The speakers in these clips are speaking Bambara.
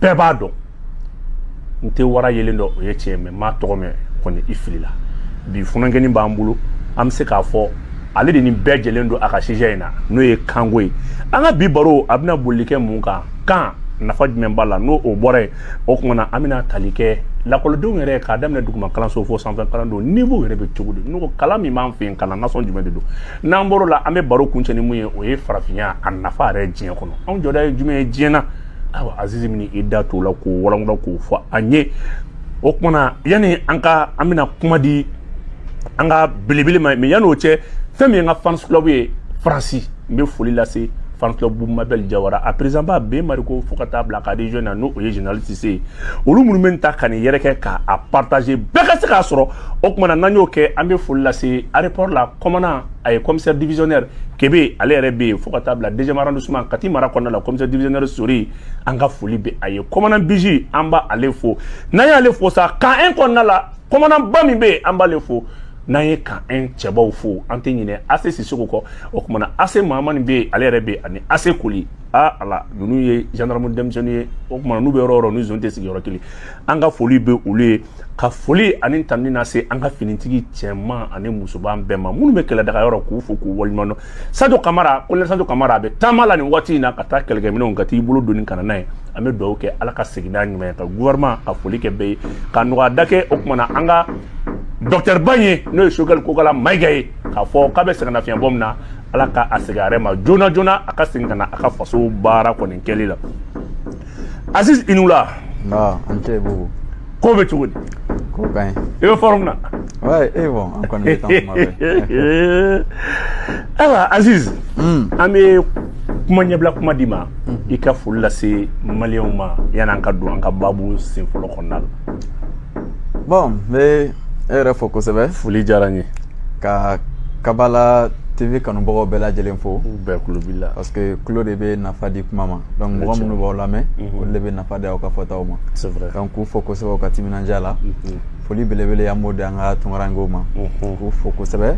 bɛɛ b'a dɔn n tɛ wara yelen dɔn o ye tiɲɛ mais m'a tɔgɔ mɛn kɔni i filila bi funankɛnin b'an bolo an bɛ se k'a fɔ ale de nin bɛɛ jɛlen don a ka sujet in na n'o ye kanko ye an ka bi baro a bɛna boli kɛ mun kan kan nafa jumɛn b'a la n'o o bɔra yen o tuma na an bɛna tali kɛ lakɔlidenw yɛrɛ k'a daminɛ duguma kalanso fo sanfɛ kalandenw niveau yɛrɛ bɛ cogo di n'o ko kalan min b'an fɛ yen kalan nasɔn jumɛn de don n'an bɔr'o la an bɛ baro kuncɛ ni mun ye o ye farafinya a nafa yɛrɛ diɲɛ kɔnɔ anw jɔda ye jumɛn ye diɲɛ na awa azizi min i da t'o la k'o walawala k'o fɔ an ye o kumana yanni an ka an bɛna kuma di an ka belebele ma mais yanni o cɛ fɛn min ye n ka fans club ye faransi n bɛ foli lase fans club mabɛl jawara a président ba ben mariko fo ka taa bila ka region na n'o ye général sise ye olu minnu bɛ ta ka nin yɛrɛkɛ ka a partager bɛɛ ka se k'a sɔrɔ o kumana n'an y'o kɛ an bɛ foli lase aéroport la commandant a ye commissaire divisionnaire kebe ale yɛrɛ bɛ yen fo ka taa bila deuxième arrondissement kati mara kɔnɔna la commissaire divisionnaire sori an ka foli bɛ a ye commandant biji an b'ale fo n'an y'ale fo sa camp un kɔnɔna la commandant ba min bɛ yen an b'ale fo n'an ye camp un cɛbaw fo an tɛ ɲinɛ AC sisoko kɔ o kumana AC mahamani bɛ yen ale yɛrɛ bɛ yen ani AC koli aa ala ninnu ye gendarme denmisɛnninw ye o kumana n'u bɛ yɔrɔ o yɔrɔ n'u zone tɛ sigi yɔrɔ kelen an ka foli bɛ olu ye ka foli ani tanuni lase an ka finitigi cɛman ani musoman bɛɛ ma minnu bɛ kɛlɛdaga yɔrɔ k'u fo k'u waleɲuman dɔn sajo kamara colonel sajo kamara a bɛ taama la nin waati in na ka taa kɛlɛkɛminɛnw ka t'i bolo doni ka na n'a ye an bɛ dugawu kɛ ala ka segin n'a ɲuman ye ka gouvernement ka foli kɛ bɛɛ ye ka nɔgɔya da kɛ o kumana an ka docteur ba in ye n'o ye sogɛli kokala mayiga ye k'a fɔ k'a bɛ sɛgɛnnafiɲɛ bɔ min na ala ka a segin a yɛrɛ ma joona joona a ka segin ka na a ka faso baara kɔni kɛli la aziz i ni wula an tɛ ko bɛ cogo di ko i bɛ forme na ayiwa aziz an bɛ kuma ɲɛbila kuma d'i ma i ka foli lase maliw ma yann'an ka don an ka baabu sen fɔlɔ kɔnɔna la bon n bɛ e yɛrɛ fo kosɛbɛ foli diyara n ye ka kabala tv kanubagaw bɛɛ lajɛlen fo bɛɛ tulo b'i la parce que tulo de bɛ nafa di kuma ma donc mɔgɔ minnu b'aw lamɛn mhm. olu de bɛ nafa di aw ka fɔtaw ma donc k'u fo kosɛbɛ u ka timinandiya la mhm. foli belebele an b'o di an ka tunkarankew ma mhm. k'u fo kosɛbɛ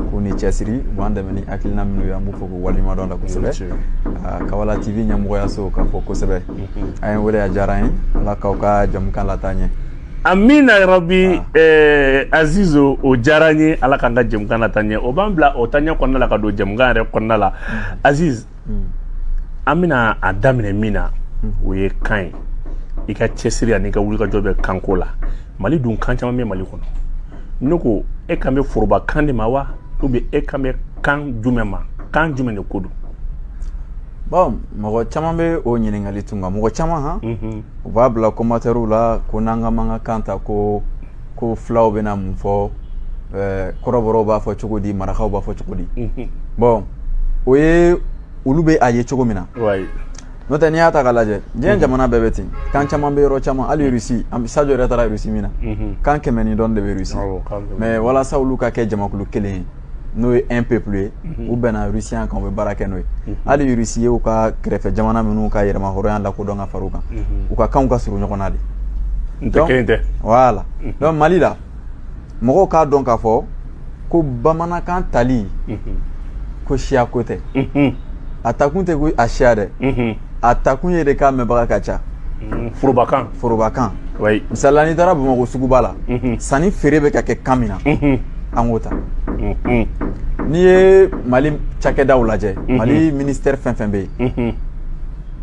k'u ni cɛsiri u b'an dɛmɛ ni hakilina minnu ye an b'u fo k'u waleɲumandɔn la kosɛbɛ ah, kabala tv ɲɛmɔgɔyaso k'a fo kosɛbɛ an ye wele a diyara an ye ala k'aw ka jamukan lataa ɲɛ amina rabi eh, aziz o diyara n ye ala k'an ka jamukan lataa ɲɛ o b'an bila o taaɲɛ kɔnɔna la ka don jamukan yɛrɛ kɔnɔna la aziz an bɛna a daminɛ min na o ye kan ye i ka cɛsiri ani i ka wulikajɔ bɛ kanko la mali dun kan caman bɛ mali kɔnɔ ne ko e kan bɛ foroba kan de ma wa ou bien e kan bɛ kan jumɛn ma kan jumɛn de ko don Bon mɔgɔ caman bɛ o ɲininkali tun mɔgɔ caman u b'a bila commentairew la ko n'an ka bamanankan ta ko fulaw bɛna mun fɔ kɔrɔbɔrɔw b'a fɔ cogo di marakaw b'a fɔ cogo di bon o ye olu bɛ a ye cogo min na n'o tɛ n'i y'a ta k'a lajɛ diɲɛ jamana bɛɛ bɛ ten kan caman bɛ yɔrɔ caman hali rusi Sadio yɛrɛ taara rusi min na kan kɛmɛ ni dɔ de bɛ rusi mais walasa olu ka kɛ jamakulu kelen ye n'o ye un peuple ye mhm. u bɛnna rusiya kan u bɛ baara kɛ n'o ye mhm. hali rusi ye u ka kɛrɛfɛ jamana minnu ka yɛrɛmahɔrɔnya lakodɔn ka fara u kan mhm. u ka kanw ka surun ɲɔgɔn na de voilà donc mali la mɔgɔw k'a dɔn k'a fɔ ko bamanankan tali ko siya ko tɛ a takun tɛ ko a siya dɛ a takun ye de k'a mɛnbaga ka ca mm, forobakan forobakan oui misali la n'i taara bamakɔ suguba la mhm. sanni feere bɛ ka kɛ kan min na mhm. an k'o ta mhm. n'i ye mali cakɛdaw lajɛ mali ministɛri fɛn fɛn bɛ yen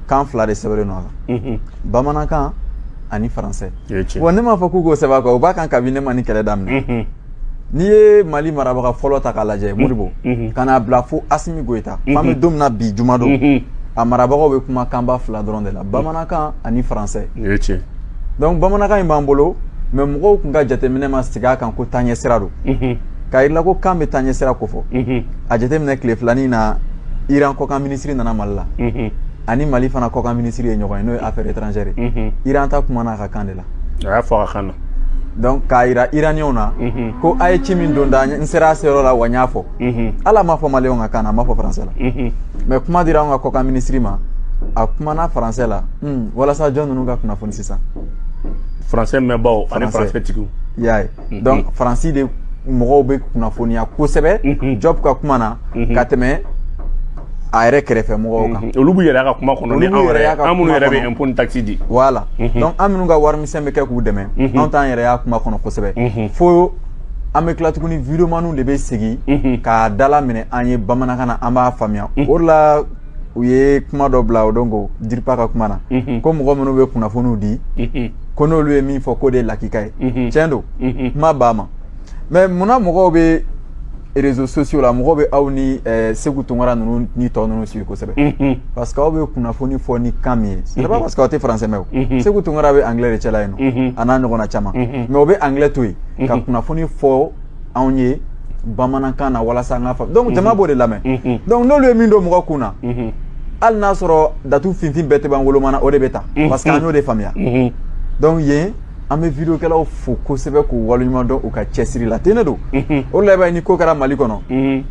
kan fila de sɛbɛnlen don a la bamanankan ani faransɛ wa ne m'a fɔ k'u k'o sɛbɛn a kan o b'a kan kabini ne ma nin kɛlɛ daminɛ N'i ye mali marabaga fɔlɔ ta k'a lajɛ Modibo ka n'a bila fo Asimi Goïta f'an bɛ don min na bi jumadon a marabagaw bɛ kuma kanba fila dɔrɔn de la bamanankan ani faransɛ donc bamanankan in b'an bolo mais mɔgɔw tun ka jateminɛ ma sigi a kan ko taaɲɛ sira don k'a yira ko kan bɛ taaɲɛ sira kofɔ a jateminɛ tile fila nin na iran kɔkan minisiri nana mali la ani mali fana kɔkan minisiri ye ɲɔgɔn ye n'o ye affaires étrangères iran ta kumana a ka kan de la a y'a fɔ a ka kan na donc k'a yira iraniyɛnw na ko a ye ci min don n da n sera a seyɔrɔ la wa n y'a fɔ ala m'a fɔ maliyɛnw ka kan na a m'a fɔ faransɛ la mais kuma dira anw ka kɔkan minisiri ma a kumana faransɛ la hmm, walasa jɔn ninnu ka kunnafoni sisan faransɛ mɛnbaaw ani faransɛ tigiw y'a ye mhm. donc faransi de mɔgɔw bɛ kunnafoniya kosɛbɛ mhm. Diop ka kuma na mhm. ka tɛmɛ a yɛrɛ kɛrɛfɛ mɔgɔw kan olu b'u yɛrɛ y'a ka kuma kɔnɔ ni an minnu yɛrɛ bɛ impôt ni taxe di voilà donc an minnu ka warimisɛn bɛ kɛ k'u dɛmɛ anw t'an yɛrɛ y'a kuma kɔnɔ kosɛbɛ fo an bɛ tila tuguni videomaniw de bɛ segin k'a dalaminɛ an ye bamanankan na an b'a faamuya o de la u ye kuma dɔ bila o don ko DIRPA ka kuma na ko mɔgɔ minnu bɛ kunnafoniw di ko n'olu ye min fɔ k'o de ye lakika ye tiɲɛ don kuma b'a ma mais munna mɔgɔw bɛ réseaux sociaux la mɔgɔw bɛ aw ni eh, Seku Tunkara ninnu ni tɔ ninnu suivi kosɛbɛ mhm. parce que aw bɛ kunnafoni fɔ ni kan min ye c'est pas mhm. parce que aw tɛ français mɛn o mhm. Seku Tunkara bɛ anglais de cɛla yen nɔ a n'a ɲɔgɔnna caman mais o bɛ anglais to yen ka kunnafoni fɔ anw ye bamanankan na walasa an k'a faamu donc jama b'o de lamɛn donc n'olu ye min don mɔgɔ kun na hali n'a sɔrɔ datu finfin bɛɛ tɛ ban wolomana o de bɛ ta parce que an y'o de faamuya donc yen an bɛ vidéokɛlaw fo kosɛbɛ k'u waleɲuman dɔn u ka cɛsiri la ten de don o la i b'a ye ni ko kɛra Mali kɔnɔ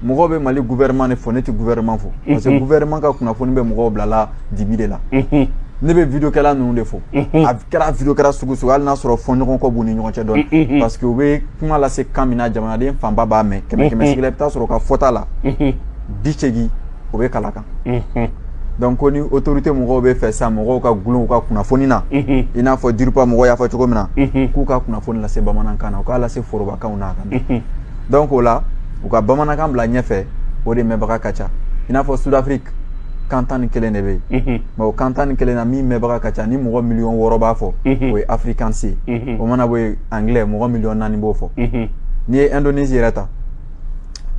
mɔgɔw bɛ Mali gouvernement de fo ne tɛ gouvernement fo parce que gouvernement ka kunnafoni bɛ mɔgɔw bilala dibi de la ne bɛ vidéokɛla ninnu de fo a kɛra vidéokɛla sugu sugu hali n'a sɔrɔ fɔɲɔgɔnkɔ b'u ni ɲɔgɔn cɛ dɔɔni parce que u bɛ kuma lase kan min na jamanaden fanba b'a mɛn kɛmɛ kɛmɛ sigi la i bɛ taa sɔrɔ u ka fɔta la bi seegin o bɛ kala kan donc ko ni autorité mɔgɔw bɛ fɛ sa mɔgɔw ka gulon u ka kunnafoni na i n'a fɔ DIRPA mɔgɔw y'a fɔ cogo min na k'u ka kunnafoni lase bamanankan na u k'a lase forobakanw na a ka na donc o la u ka bamanankan bila ɲɛfɛ o de mɛnbaga ka ca i n'a fɔ Sud-Afrique kan tan ni kelen de bɛ yen mais o kan tan ni kelen na min mɛnbaga ka ca ni mɔgɔ miliyɔn wɔɔrɔ b'a fɔ o ye afrikaans ye o mana bɔ yen anglais mɔgɔ miliyɔn naani b'o fɔ n'i ye Indonésie yɛrɛ ta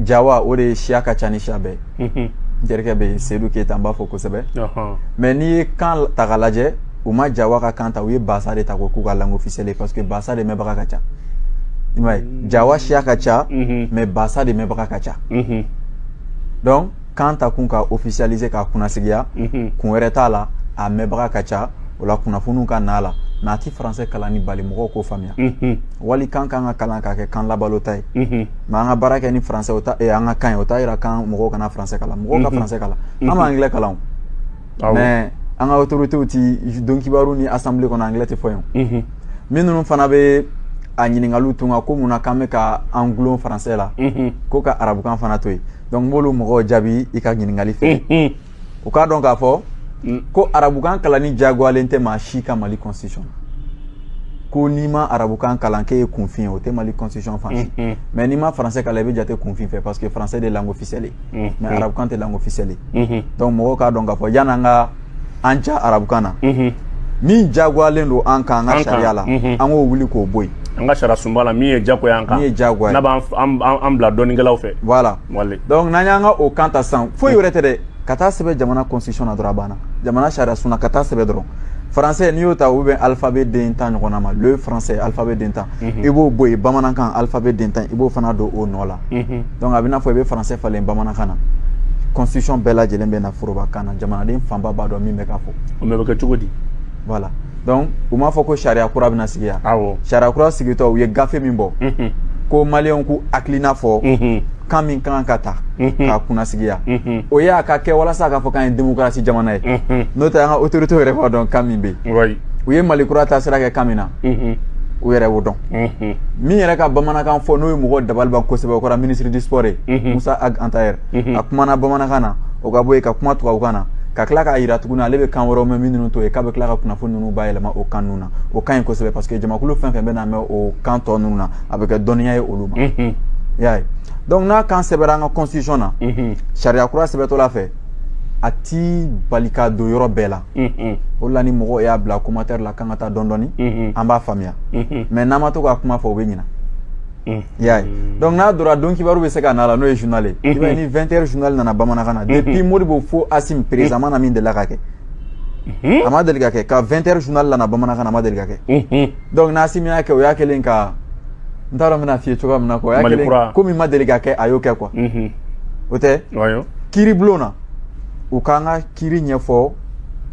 Jawa o de ye siya ka ca ni siya bɛɛ ye jelikɛ bɛ yen Seydou Keita an b'a fo kosɛbɛ mais n'i ye kan ta k'a lajɛ u ma Jawa ka kan ta u ye Bahasa de ta k'o k'u ka langue officielle ye parce que Bahasa de mɛnbaga ka ca i m'a ye Jawa siya ka ca mais Bahasa de mɛnbaga ka ca donc kan ta kun ka officialiser k'a kunnasigiya kun wɛrɛ t'a la a mɛnbaga ka ca o la kunnafoniw ka n'a la mais a ti français kalanni bali mɔgɔw k'o faamuya Walikan ka kan ka kalan ka kɛ kan labalota ye mais an ka baara kɛ ni français an ka kan ye o t'a jira k'an mɔgɔw kana français kalan mɔgɔw ka français kalan an bɛ anglais kalan mais an ka autoritéw tɛ don kibaru ni assemblée kɔnɔ anglais tɛ fɔ yen min ninnu fana bɛ a ɲininkali tun kan ko mun na k'an bɛ ka an gulon français la ko ka arabukan fana to yen donc n b'olu mɔgɔw jaabi i ka ɲininkali fɛ u k'a dɔn k'a fɔ mm. ko arabukan kalanni diyagoyalen tɛ maa si kan mali constitution ko n'i ma arabukan kalan k'e ye kunfin ye o tɛ mali constitution fan si mm-hmm. mais n'i ma français kalan i bɛ jate kunfin fɛ parce que français de ye langue officielle ye mm-hmm. mais arabukan tɛ langue officielle ye mm-hmm. donc mɔgɔw k'a dɔn k'a fɔ yan'an ka an ja arabukan na min diyagoyalen don an kan an ka sariya la an k'o wuli k'o bɔ yen an ka sariya sunba la min ye diyagoya an kan min ye diyagoya n'a b'an bila dɔnnikɛlaw fɛ voilà donc n'an y'an ka o kan ta sisan foyi wɛrɛ tɛ dɛ ka taa sɛbɛn jamana constitution na dɔrɔn a banna jamana sariya sun na ka taa sɛbɛn dɔrɔn français n'i y'o ta u bɛ alphabet den tan ɲɔgɔnna ma le français alphabet den tan i b'o bɔ yen bamanankan alphabet den tan i b'o fana don o nɔ la donc a bɛ n'a fɔ i bɛ français falen bamanankan na constitution bɛɛ lajɛlen bɛ na forobakan na jamanaden fanba b'a dɔn min bɛ ka fɔ o bɛ kɛ cogo di voilà donc u m'a fɔ ko sariya kura bɛna sigi yan awɔ sariya kura sigitɔ u ye gafe min bɔ unhun ko maliyɛnw k'u hakilina fɔ unhun kan min kan ka ta Mhm. k'a kunnasigiya unhun o ye a ka kɛ walasa a k'a fɔ k'an ye démocratie jamana ye unhun n'o tɛ an ka autorité yɛrɛ b'a dɔn kan min bɛ yen wayi u ye mali kura taasira kɛ kan min na unhun u yɛrɛ b'o dɔn unhun min yɛrɛ ka bamanankan fɔ n'o ye mɔgɔ dabali ban kosɛbɛ o kɛra ministre du sport ye Mhm. Mossa Ag Attaher a kumana bamanankan na o ka bɔ yen ka kuma tubabukan na ka tila k'a yira tuguni ale bɛ kan wɛrɛw mɛn minnu to yen k'a bɛ tila ka kunnafoni ninnu bayɛlɛma o kan ninnu na o ka ɲi kosɛbɛ parce que jamakulu fɛn fɛn bɛn'a mɛn o kan tɔ ninnu na a bɛ kɛ dɔnniya ye olu ma i y'a ye donc n'a kan sɛbɛra an ka constitution na sariya kura sɛbɛtɔla fɛ a ti bali ka don yɔrɔ bɛɛ la o la ni mɔgɔw y'a bila commentaire la k'an ka taa dɔɔnin dɔɔnin an b'a faamuya mais n'an ma to k'a kuma fɔ o bɛ ɲina Unhun, i y'a ye, donc n'a donna donkibaru bɛ se ka na a la n'o ye journal ye, unhun, i b'a ye ni 20 heures journal nana bamanankan na, unhun, depuis Modibo fo Asimi présentement na min delila ka kɛ, unhun, a ma deli ka kɛ, ko 20 heures journal nana bamanankan na a ma deli ka kɛ, unhun, donc n'Asimi y'a kɛ o y'a kɛlen ka n t'a dɔn n bɛna f'i ye cogoya min na quoi o y'a kɛlen ko min ma deli ka kɛ a y'o kɛ quoi, unhun, o tɛ, wayo, kiiribulon na u k'an ka kiiri ɲɛfɔ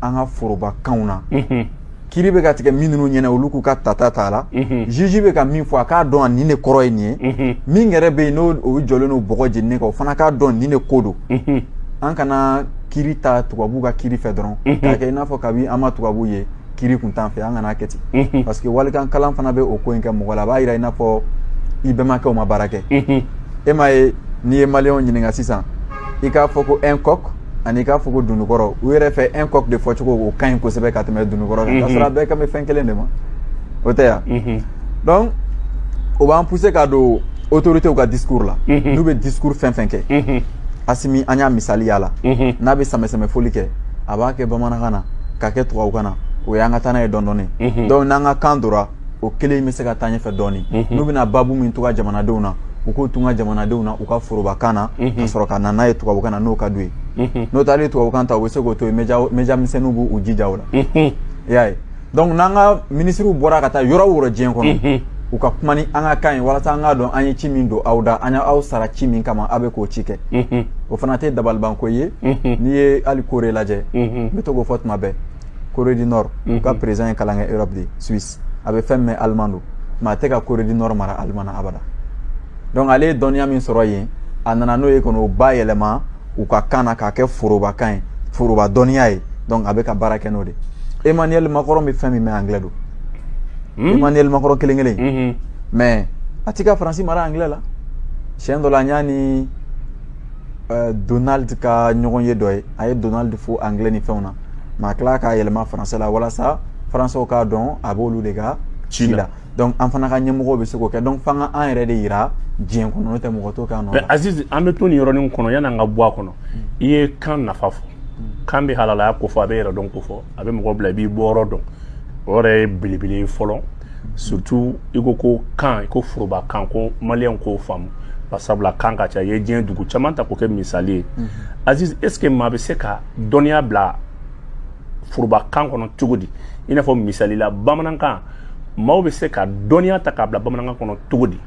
an ka forobakanw na, unhun. kiiri bɛ ka tigɛ min ninnu ɲɛna olu k'u ka tata t'a la juge bɛ ka min fɔ a k'a dɔn a nin de kɔrɔ ye nin ye min yɛrɛ bɛ yen n'o jɔlen don bɔgɔ jeninen kan o fana k'a dɔn nin de ko don an kana kiiri ta tubabu ka kiiri fɛ dɔrɔn k'a kɛ i n'a fɔ kabi an ma tubabu ye kiiri kun t'an fɛ an kana kɛ ten parce que walikan kalan fana bɛ o ko in kɛ mɔgɔ la a b'a yira i n'a fɔ i bɛnbakɛw ma baara kɛ e m'a ye n'i ye maliyɛnw ɲininka sisan i k'a fɔ ko un coq ani k'a fɔ ko dunukɔrɔ u yɛrɛ fɛ un coq de fɔcogo o ka ɲi kosɛbɛ ka tɛmɛ dunukɔrɔ kan ka sɔrɔ a bɛɛ kan bɛ fɛn kelen de ma o tɛ yan donc o b'an pousser ka don autorités ka discours la n'u bɛ discours fɛn fɛn kɛ Asimi an y'a misali y'a la n'a bɛ sanbɛsanbɛfoli kɛ a b'a kɛ bamanankan na k'a kɛ tubabukan na o y'an ka taa n'a ye dɔɔnin dɔɔnin donc n'an ka kan dora o kelen bɛ se ka taa ɲɛfɛ dɔɔnin n'u bɛna babu min tɔgɔ jamanadenw na u k'o tun ka jamanadenw na u ka forobakan na ka sɔrɔ ka na n'a ye tubabukan na n'o ka d'u ye n'o tɛ tubabukan ta u bɛ se k'o to yen média misɛnninw b'u jija a la i y'a ye donc n'an ka minisiriw bɔra ka taa yɔrɔ o yɔrɔ diɲɛ kɔnɔ u ka kuma ni an ka kan ye walasa an k'a dɔn an ye ci min don aw da an y' aw sara ci min kama aw bɛ k'o ci kɛ o fana tɛ dabalibanko ye n'i ye hali Corée lajɛ n bɛ to k'o fɔ tuma bɛɛ Corée du Nord u ka président ye kalan kɛ Europe de Suisse a bɛ fɛn min mɛn allemand don mais a tɛ ka Corée du Nord mara allemand na abada donc ale ye dɔnniya min sɔrɔ yen a nana n'o ye ka na o bayɛlɛma u ka kan na k'a kɛ forobakan ye foroba dɔnniya ye donc a bɛ ka baara kɛ n'o de Emmanuel Macron bɛ fɛn min mɛn anglais don Emmanuel Macron kelen kelen mais a tɛ ka Faransi mara anglais la siɲɛ dɔ la n y'a ni Donald ka ɲɔgɔnye dɔ ye a ye Donald fo anglais ni fɛnw na mais a tila k'a yɛlɛma français la walasa françaisw k'a dɔn a b'olu de ka ci la donc an fana ka ɲɛmɔgɔw bɛ se k'o kɛ donc f'an ka an yɛrɛ de yira diɲɛ kɔnɔ n'o tɛ mɔgɔ t'o kɛ an nɔ la Aziz an bɛ to nin yɔrɔnin kɔnɔ yani an ka bɔ a kɔnɔ i ye kan nafa fɔ kan bɛ halalaya ko fɔ a bɛ yɛrɛdɔn ko fɔ a bɛ mɔgɔ bila i b'i bɔyɔrɔ dɔn o yɛrɛ ye belebele ye fɔlɔ surtout i ko ko kan i ko foroba kan ko maliyɛn k'o faamu sabula kan ka ca i ye diɲɛ dugu caman ta k'o kɛ misali ye mhm. aziz est ce que maa bɛ se ka dɔnniya bila foroba kan kɔnɔ cogo di i n'a fɔ misali la bamanankan maaw bɛ se ka dɔnniya ta k'a bila bamanankan kɔnɔ cogo di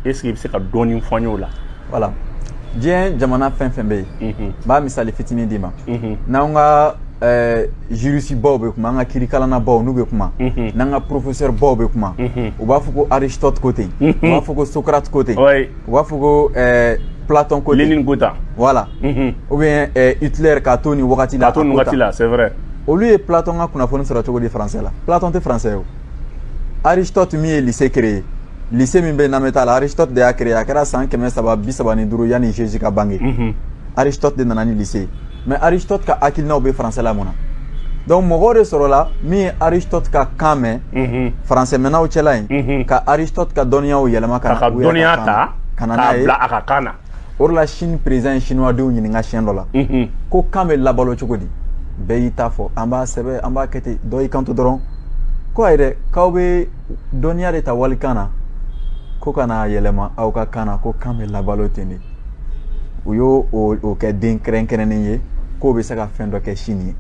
est ce que i bɛ se ka dɔɔni fɔ an y'o la voilà diɲɛ jamana fɛn fɛn bɛ yen n b'a misali fitinin d'i ma n'an ka juriste baw bɛ kuma an ka kirikalanna baw n'u bɛ kuma n'an ka professeur baw bɛ kuma u b'a fɔ ko aristote ko ten u b'a fɔ ko socrate ko ten u b'a fɔ ko ɛɛ Platon ko ten, Lenini ko tan, voilà unhun, ou bien ɛɛ Hitler k'a to nin wagati la, k'a to nin wagati la c'est vrai olu ye Platon ka kunnafoni sɔrɔ cogo di français la Platon tɛ français ye o Aristote min ye lycée créé lycée min bɛ Nameta la Aristote de y'a créé a kɛra san kɛmɛ saba bi saba ni duuru yanni Jésus ka bange unhun, Aristote de nana ni lycée ye mais aristote ka hakilinaw bɛ français la mun na donc mɔgɔw de sɔrɔla min ye aristote ka kan mɛn mhm. français mɛnnaw cɛla yen mhm. ka aristote ka dɔnniyaw yɛlɛma k'a ka dɔnniya ta ka na n'a ye a ka kan na o de la chine président ye chinois denw ɲininka siɲɛ dɔ la mhm. ko kan bɛ labalo cogo di bɛɛ y'i ta fɔ an b'a sɛbɛn an b'a kɛ ten dɔ y'i kanto dɔrɔn ko ayi dɛ k'aw bɛ dɔnniya de ta walikan na ko ka na yɛlɛma aw ka kan na ko kan bɛ labalo ten de u y'o o kɛ den kɛrɛnkɛrɛnnen ye k'o bɛ se ka fɛn dɔ kɛ sini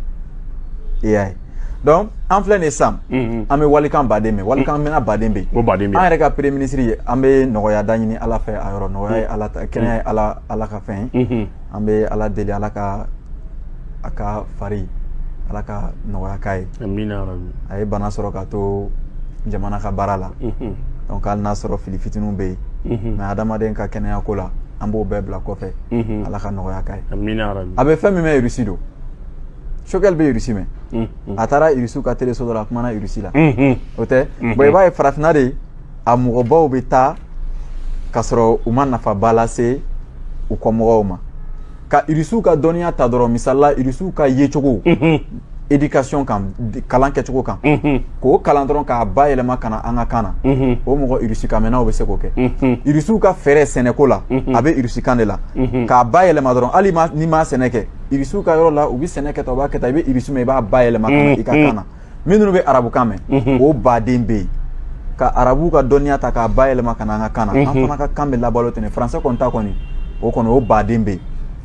ye e y'a ye donc an filɛ nin ye sisan mhm. an bɛ walikan baden mɛn walikan mɛnna baden bɛ yen an yɛrɛ ka premier ministre ye an bɛ nɔgɔya da ɲini ala fɛ a yɔrɔ nɔgɔya ye mhm. ala ta kɛnɛya ye ala ka fɛn ye mhm. an bɛ ala deli ala ka a ka fari ala ka nɔgɔya k'a ye a ye bana sɔrɔ ka to jamana ka baara la donc hali n'a sɔrɔ fili fitininw bɛ yen mais adamaden ka kɛnɛya ko la an b'o bɛɛ bila kɔfɛ ala ka nɔgɔya k'a ye a bɛ fɛn min mɛn irisi don choguel bɛ irisi mɛn a taara irisiw ka teleso dɔ la a kumana irisi la o tɛ bon i b'a ye farafinna de a mɔgɔbaw bɛ taa ka sɔrɔ u ma nafaba lase u kɔmɔgɔw ma ka irisiw ka dɔnniya ta dɔrɔn misalila irisiw ka yecogo éducation kan kalan kɛcogo kan k'o kalan dɔrɔn k'a bayɛlɛma ka na an ka kan na o mɔgɔ irisikanmɛnnaw bɛ se k'o kɛ irisiw ka fɛɛrɛ sɛnɛko la a bɛ irisikan de la k'a bayɛlɛma dɔrɔn hali n'i ma sɛnɛ kɛ irisiw ka yɔrɔ la u bɛ sɛnɛ kɛ tan u b'a kɛ tan i bɛ irisi mɛn i b'a bayɛlɛma ka na i ka kan na minnu bɛ arabukan mɛn mhm. o baden bɛ yen ka arabuw ka dɔnniya ta k'a bayɛlɛma ka na an ka kan na an mhm. fana ka kan bɛ labalo ten français kɔni ta kɔni o kɔni o baden bɛ yen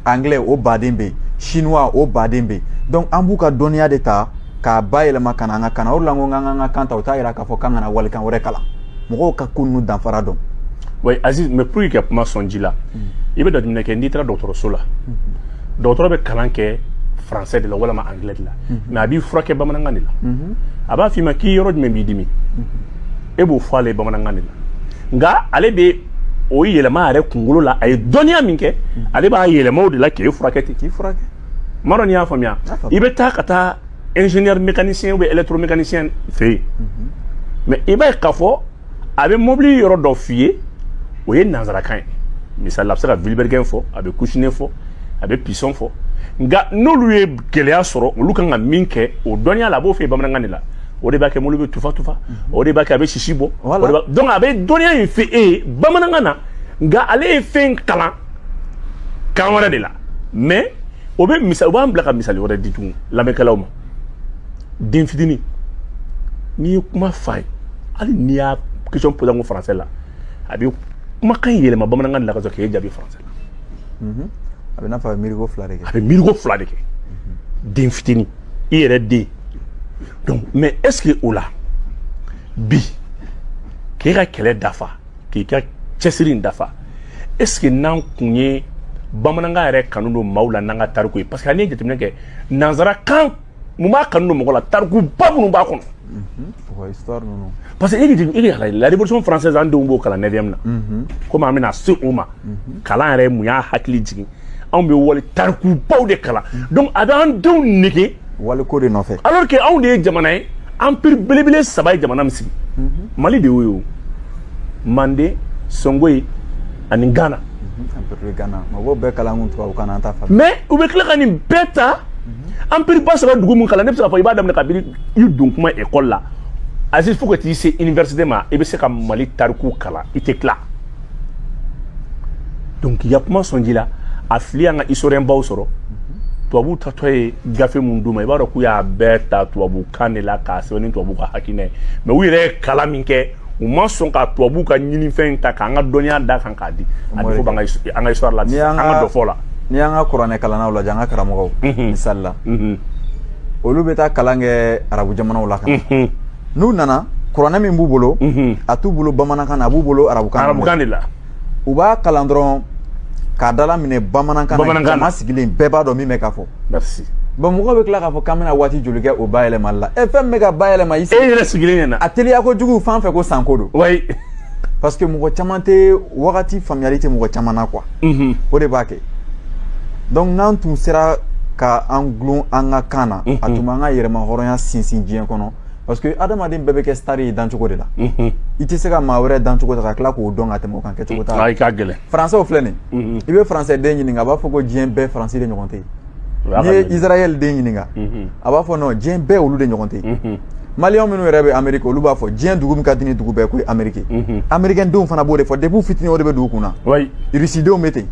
anglais o baden bɛ yen chinois o baden bɛ yen donc an b'u ka dɔnniya de ta k'a bayɛlɛma ka na an ka kan na o de la n ko k'an ka kan ta o t'a yira k'a fɔ k'an kana walikan wɛrɛ kalan mɔgɔw ka ko ninnu danfara dɔn aziz mais pour que ka kuma sɔn ji la mm. i bɛ jateminɛ kɛ n'i taara dɔgɔtɔrɔso la mm-hmm. dɔgɔtɔrɔ bɛ kalan kɛ français de la walama anglais de la mhm. mais a b'i furakɛ bamanankan de la mhm. a b'a f'i ma k'i yɔrɔ jumɛn b'i dimi mhm. e b'o fɔ ale bamanankan de la nka ale bɛ o yɛlɛma a yɛrɛ kunkolo la a ye dɔnniya min kɛ ale b'a yɛlɛma o de la k'e furakɛ ten k'i furakɛ n m'a dɔn n'i y'a faamuya i bɛ taa ka taa ingénieur mécanicien ou bien électromécanicien fɛ yen mais i b'a ye k'a fɔ a bɛ mobili yɔrɔ dɔ f'i ye o ye nanzarakan ye misali la a bɛ se ka vilebrequin fɔ a bɛ coussinet fɔ a bɛ piston fɔ nka n'olu ye gɛlɛya sɔrɔ olu kan ka min kɛ o dɔnniya la a b'o fɔ bamanankan de la o de b'a kɛ mobili bɛ tufa tufa mhm. o de b'a kɛ a bɛ sisi bɔ donc a bɛ dɔnniya in fɔ e ye bamanankan na nka ale ye fɛn kalan kan wɛrɛ de la mais o bɛ misali o b'an bila ka misali wɛrɛ di tugun lamɛnkɛlaw ma den fitinin n'i ye kuma f'a ye hali n'i y'a question posé en français la a bɛ kumakan in yɛlɛma bamanankan de la ka sɔrɔ k'e jaabi français la mhm. a bɛ n'a fɔ a bɛ miiriko fila de kɛ a bɛ miiriko fila de kɛ den fitinin i yɛrɛ den donc mais est ce que o la bi k'e ka kɛlɛ dafa k'i ka cɛsiri in dafa est ce que n'an kun ye bamanankan yɛrɛ kanu don maaw la n'an ka tariku ye parce que n'i ye jateminɛ kɛ nanzarakan mun b'a kanu don mɔgɔ la tarikuba minnu b'a kɔnɔ parce que la révolution française an denw b'o kalan neuvième na komi an bɛna se o ma kalan yɛrɛ mun y'a hakili jigin anw bɛ wali tarikubaw de kalan donc a bɛ an denw nege wali ko de nɔfɛ alors que anw de ye jamana ye empire belebele saba ye jamana min sigi mali de y'o ye manden songhoy ani Ghana empire ba Ghana mɔgɔw bɛɛ kalan kun tubabukan na an t'a faamu mais u bɛ tila ka nin bɛɛ ta empire ba saba dugu mun kalan ne bɛ se k'a fɔ i b'a daminɛ kabini i don kuma ekɔli la Aziz fo ka t'i se université ma i bɛ se ka Mali tariku kalan i tɛ tila donc k'i ka kuma sɔn ji la a fili y'an ka historien baw sɔrɔ tubabuw taatɔ ye gafe mun d'u ma i b'a dɔn k'u y'a bɛɛ ta tubabukan de la k'a sɛbɛn ni tubabu ka hakilina ye mais u yɛrɛ ye kalan min kɛ u ma sɔn ka tubabu ka ɲinifɛn in ta k'an ka dɔnniya d'a kan k'a di a bɛ fɔ b'an ka an ka histoire la an ka dɔfɔ la n'i y'an ka kuranɛ kalannaw lajɛ an ka karamɔgɔw misali la olu bɛ taa kalan kɛ arabu jamanaw la nka n'u nana kuranɛ min b'u bolo a t'u bolo bamanankan na a b'u bolo arabukan arabukan de la u b'a kalan dɔrɔn k'a dalaminɛ bamanankan na jama sigilen bɛɛ b'a dɔn min bɛ ka fɔ merci bon mɔgɔw bɛ tila k'a fɔ k'an bɛna waati joli kɛ o bayɛlɛmali la e fɛn min bɛ ka bayɛlɛma i e yɛrɛ sigilen ɲɛna a teliya kojugu fan fɛ ko sanko don oui parce que mɔgɔ caman tɛ wagati faamuyali tɛ mɔgɔ caman na quoi mhm. o de b'a kɛ donc n'an tun sera ka an gulon an ka kan na a tun b'an ka yɛrɛmahɔrɔnya sinsin diɲɛ kɔnɔ parce que adamaden bɛɛ bɛ kɛ star ye dancogo de la i tɛ se ka maa wɛrɛ dancogo ta ka tila k'o dɔn ka tɛmɛ o kan kɛcogo t'a la i ka gɛlɛn français filɛ nin ye i bɛ français den ɲininka a b'a fɔ ko diɲɛ bɛɛ faransi de ɲɔgɔn tɛ yen n'i ye israel den ɲininka a b'a fɔ non diɲɛ bɛɛ olu de ɲɔgɔn tɛ yen maliyɛn minnu yɛrɛ bɛ ameriki olu b'a fɔ diɲɛ dugu min ka di ni dugu bɛɛ k'o ye ameriki amerikɛn denw fana b'o de fɔ depuis fitini o de bɛ don u kun na rusidenw bɛ ten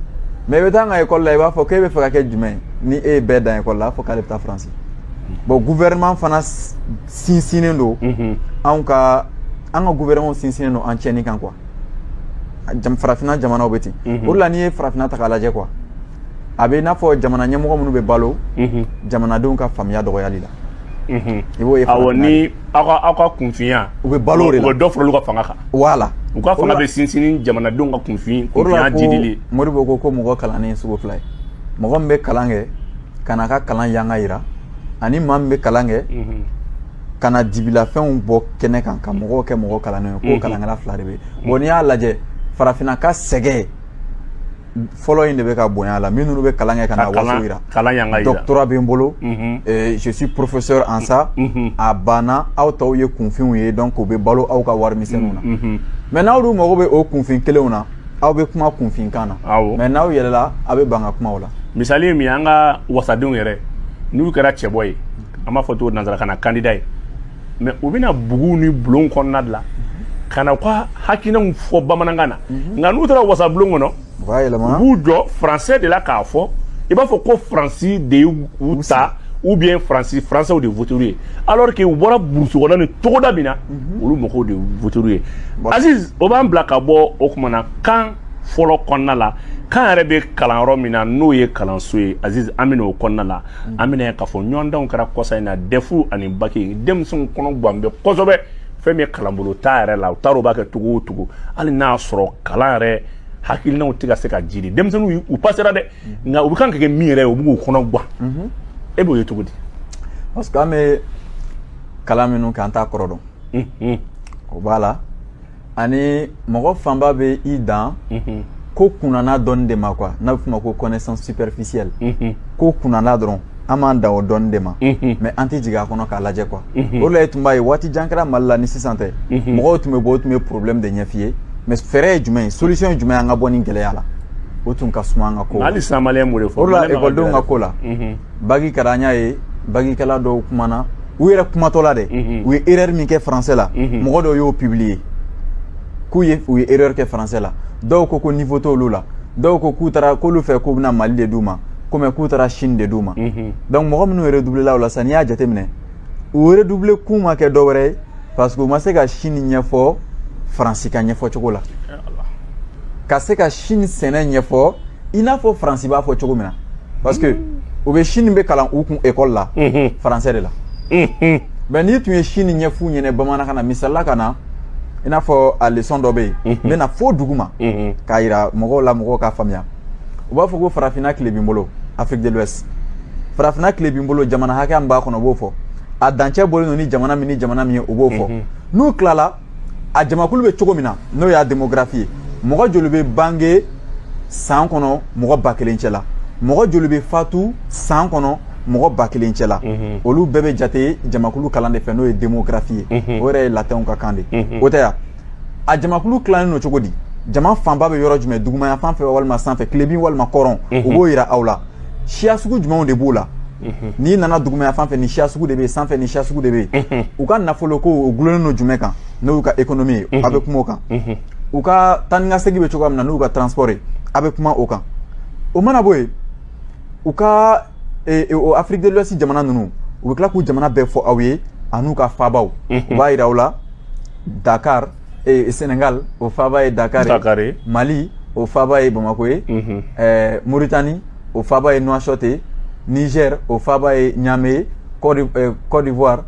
mais i bɛ taa an ka ekɔli la i b'a fɔ k'e b'a fɛ ka kɛ jumɛn ye ni e ye bɛɛ dan ekɔli la a fɔ k'ale bɛ taa faransi bon gouvernement fana sinsinnen don anw ka an ka gouvernement sinsinnen don an tiɲɛni kan quoi farafinna jamanaw bɛ ten o de la n'i ye farafinna ta k'a lajɛ quoi a bɛ i n'a fɔ jamana ɲɛmɔgɔ minnu bɛ balo jamanadenw ka faamuya dɔgɔyali la i b'o ye awɔ ni aw ka aw ka kunfinya u bɛ balo o de la u bɛ dɔ fara olu ka fanga kan voilà u ka fanga bɛ sinsin ni jamanadenw ka kunfin kunfinya didili moribo ko ko mɔgɔ kalannen ye sugu fila ye mɔgɔ min bɛ kalan kɛ ka n'a ka kalan yanga yira ani maa min bɛ kalan kɛ ka na dibilafɛnw bɔ kɛnɛ kan ka mɔgɔw kɛ mɔgɔ kalannen ye k'o kalankɛla fila de bɛ yen bon n'i y'a lajɛ farafinna ka sɛgɛn fɔlɔ in de bɛ ka bonya la minnu bɛ kalan kɛ ka na waso yira doctorat bɛ n bolo je suis professeur en ça a banna aw tɔw ye kunfinw ye donc u bɛ balo aw ka warimisɛnninw na mais n'aw dun mago bɛ o kunfin kelenw na aw bɛ kuma kunfinkan na awɔ mais n'aw yɛlɛla aw bɛ ban ka kuma o la misali ye min ye an ka wasadenw yɛrɛ n'u kɛra cɛbɔ ye an b'a fɔ cogo nansarakan na candidat ye mais u bɛ na buguw ni bulonw kɔnɔna de la ka na u ka hakilinaw fɔ bamanankan na nka n'u taara wasabulon kɔnɔ u b'a u yɛlɛma b'u jɔ français de la k'a fɔ i b'a fɔ ko faransi de ye u ta ou bien faransi faransɛw de votera u ye alors que u bɔra burusi kɔnɔ ni togoda min na olu mɔgɔw de votera u ye aziz o b'an bila ka bɔ o kuma na kan fɔlɔ kɔnɔna la kan yɛrɛ bɛ kalan yɔrɔ min na n'o ye kalanso ye aziz an bɛ na o kɔnɔna la an bɛn'a ye k'a fɔ ɲɔgɔndanw kɛra kɔsa in na dɛfu ani baki denmisɛnw kɔnɔ gan bɛ kosɛbɛ fɛn min ye kalanbolo t'a yɛrɛ la u t'a dɔn u b'a kɛ cogo o cogo hali n'a y'a sɔrɔ kalan yɛrɛ hakilinaw tɛ ka se ka jira denmisɛnninw u passera dɛ nka u bɛ kan ka kɛ min yɛrɛ ye u bɛ k'u kɔnɔ gwan e b'o ye cogo di parce que an bɛ kalan minnu kɛ an t'a kɔrɔ dɔn mhm. o b'a la ani mɔgɔ fanba bɛ i dan mhm. ko kunnana dɔnni de ma quoi n'a bɛ f'o ma ko connaissance superficielle mhm. ko kunnana dɔrɔn an b'an dan o dɔnni de ma mais an tɛ jigin a kɔnɔ k'a lajɛ quoi o de la i tun b'a ye waati jan kɛra mali la ni sisan tɛ mɔgɔw tun bɛ bɔ u tun bɛ problème de ɲɛf'i ye mais fɛɛrɛ ye jumɛn ye solution ye jumɛn an ka bɔ nin gɛlɛya la o tun ka suma an ka ko hali sisan maliyɛn b'o de fɔ o la ekɔlidenw ka ko la baki kɛra an y'a ye bakikɛla dɔw kumana u yɛrɛ kumatɔ la dɛ u ye erreur min kɛ français la mɔgɔ dɔw y'o publier k'u ye u ye erreur kɛ français la dɔw ko ko niveau t'olu la dɔw ko k'u taara k'olu fɛ k'u bɛna mali de d'u ma komi k'u taara chine de d'u ma mhm. donc mɔgɔ minnu redoubléla o la sisan n'i y'a jateminɛ u redoublé kun ma kɛ dɔ wɛrɛ ye parce que u ma se ka chine ɲɛfɔ faransi ka ɲɛfɔ cogo la ka se ka chine sɛnɛ ɲɛfɔ i n'a fɔ faransi b'a fɔ cogo min na parce que mhm. u bɛ chine bɛ kalan u kun ekɔli la mhm. français de la mais n'i tun ye chine ɲɛf'u ɲɛna bamanankan na misali la ka na i n'a fɔ a leçon dɔ bɛ yen n bɛn'a fɔ duguma k'a yira mɔgɔw la mɔgɔw k'a faamuya u b'a fɔ ko farafinna tilebin bolo afrique de l'ouest farafinna tilebin bolo jamana hakɛya min b'a kɔnɔ u b'o fɔ a dancɛ bɔlen don ni jamana min ni jamana min ye u b'o fɔ n'u tilala a jamakulu bɛ cogo min na n'o y'a démographie ye mɔgɔ joli bɛ bange san kɔnɔ mɔgɔ ba kelen cɛ la mɔgɔ joli bɛ fatu san kɔnɔ mɔgɔ ba kelen cɛ la olu bɛɛ bɛ jate jamakulu kalan de fɛ n'o ye démographie ye o yɛrɛ ye latinw ka kan de o tɛ yan a jamakulu tilannen don cogo di jama fanba bɛ yɔrɔ jumɛn dugumaya fan fɛ walima sanfɛ tilebin walima kɔrɔn mhm. u b'o yira aw la siya sugu jumɛnw de b'o la mhm. n'i nana dugumaya fan fɛ nin siya sugu de bɛ yen sanfɛ nin siya sugu de bɛ yen mhm. u ka nafolo ko o gulonnen don jumɛn kan n'o y'u ka économie ye a bɛ kuma o kan u ka taa ni ka segin bɛ cogoya min na n'u ka transport ye a bɛ kuma o kan o mana bɔ yen u ka e, e, o afrique de l'ouest jamana ninnu u bɛ tila k'u jamana bɛɛ fɔ aw ye an'u ka faabaw u b'a yira aw la dakar e, sénégal o faaba ye dakar ye mali o faaba ye bamako ye mauritanie o faaba ye nouakchott ye niger o faaba ye niamey ye côte d'ivoire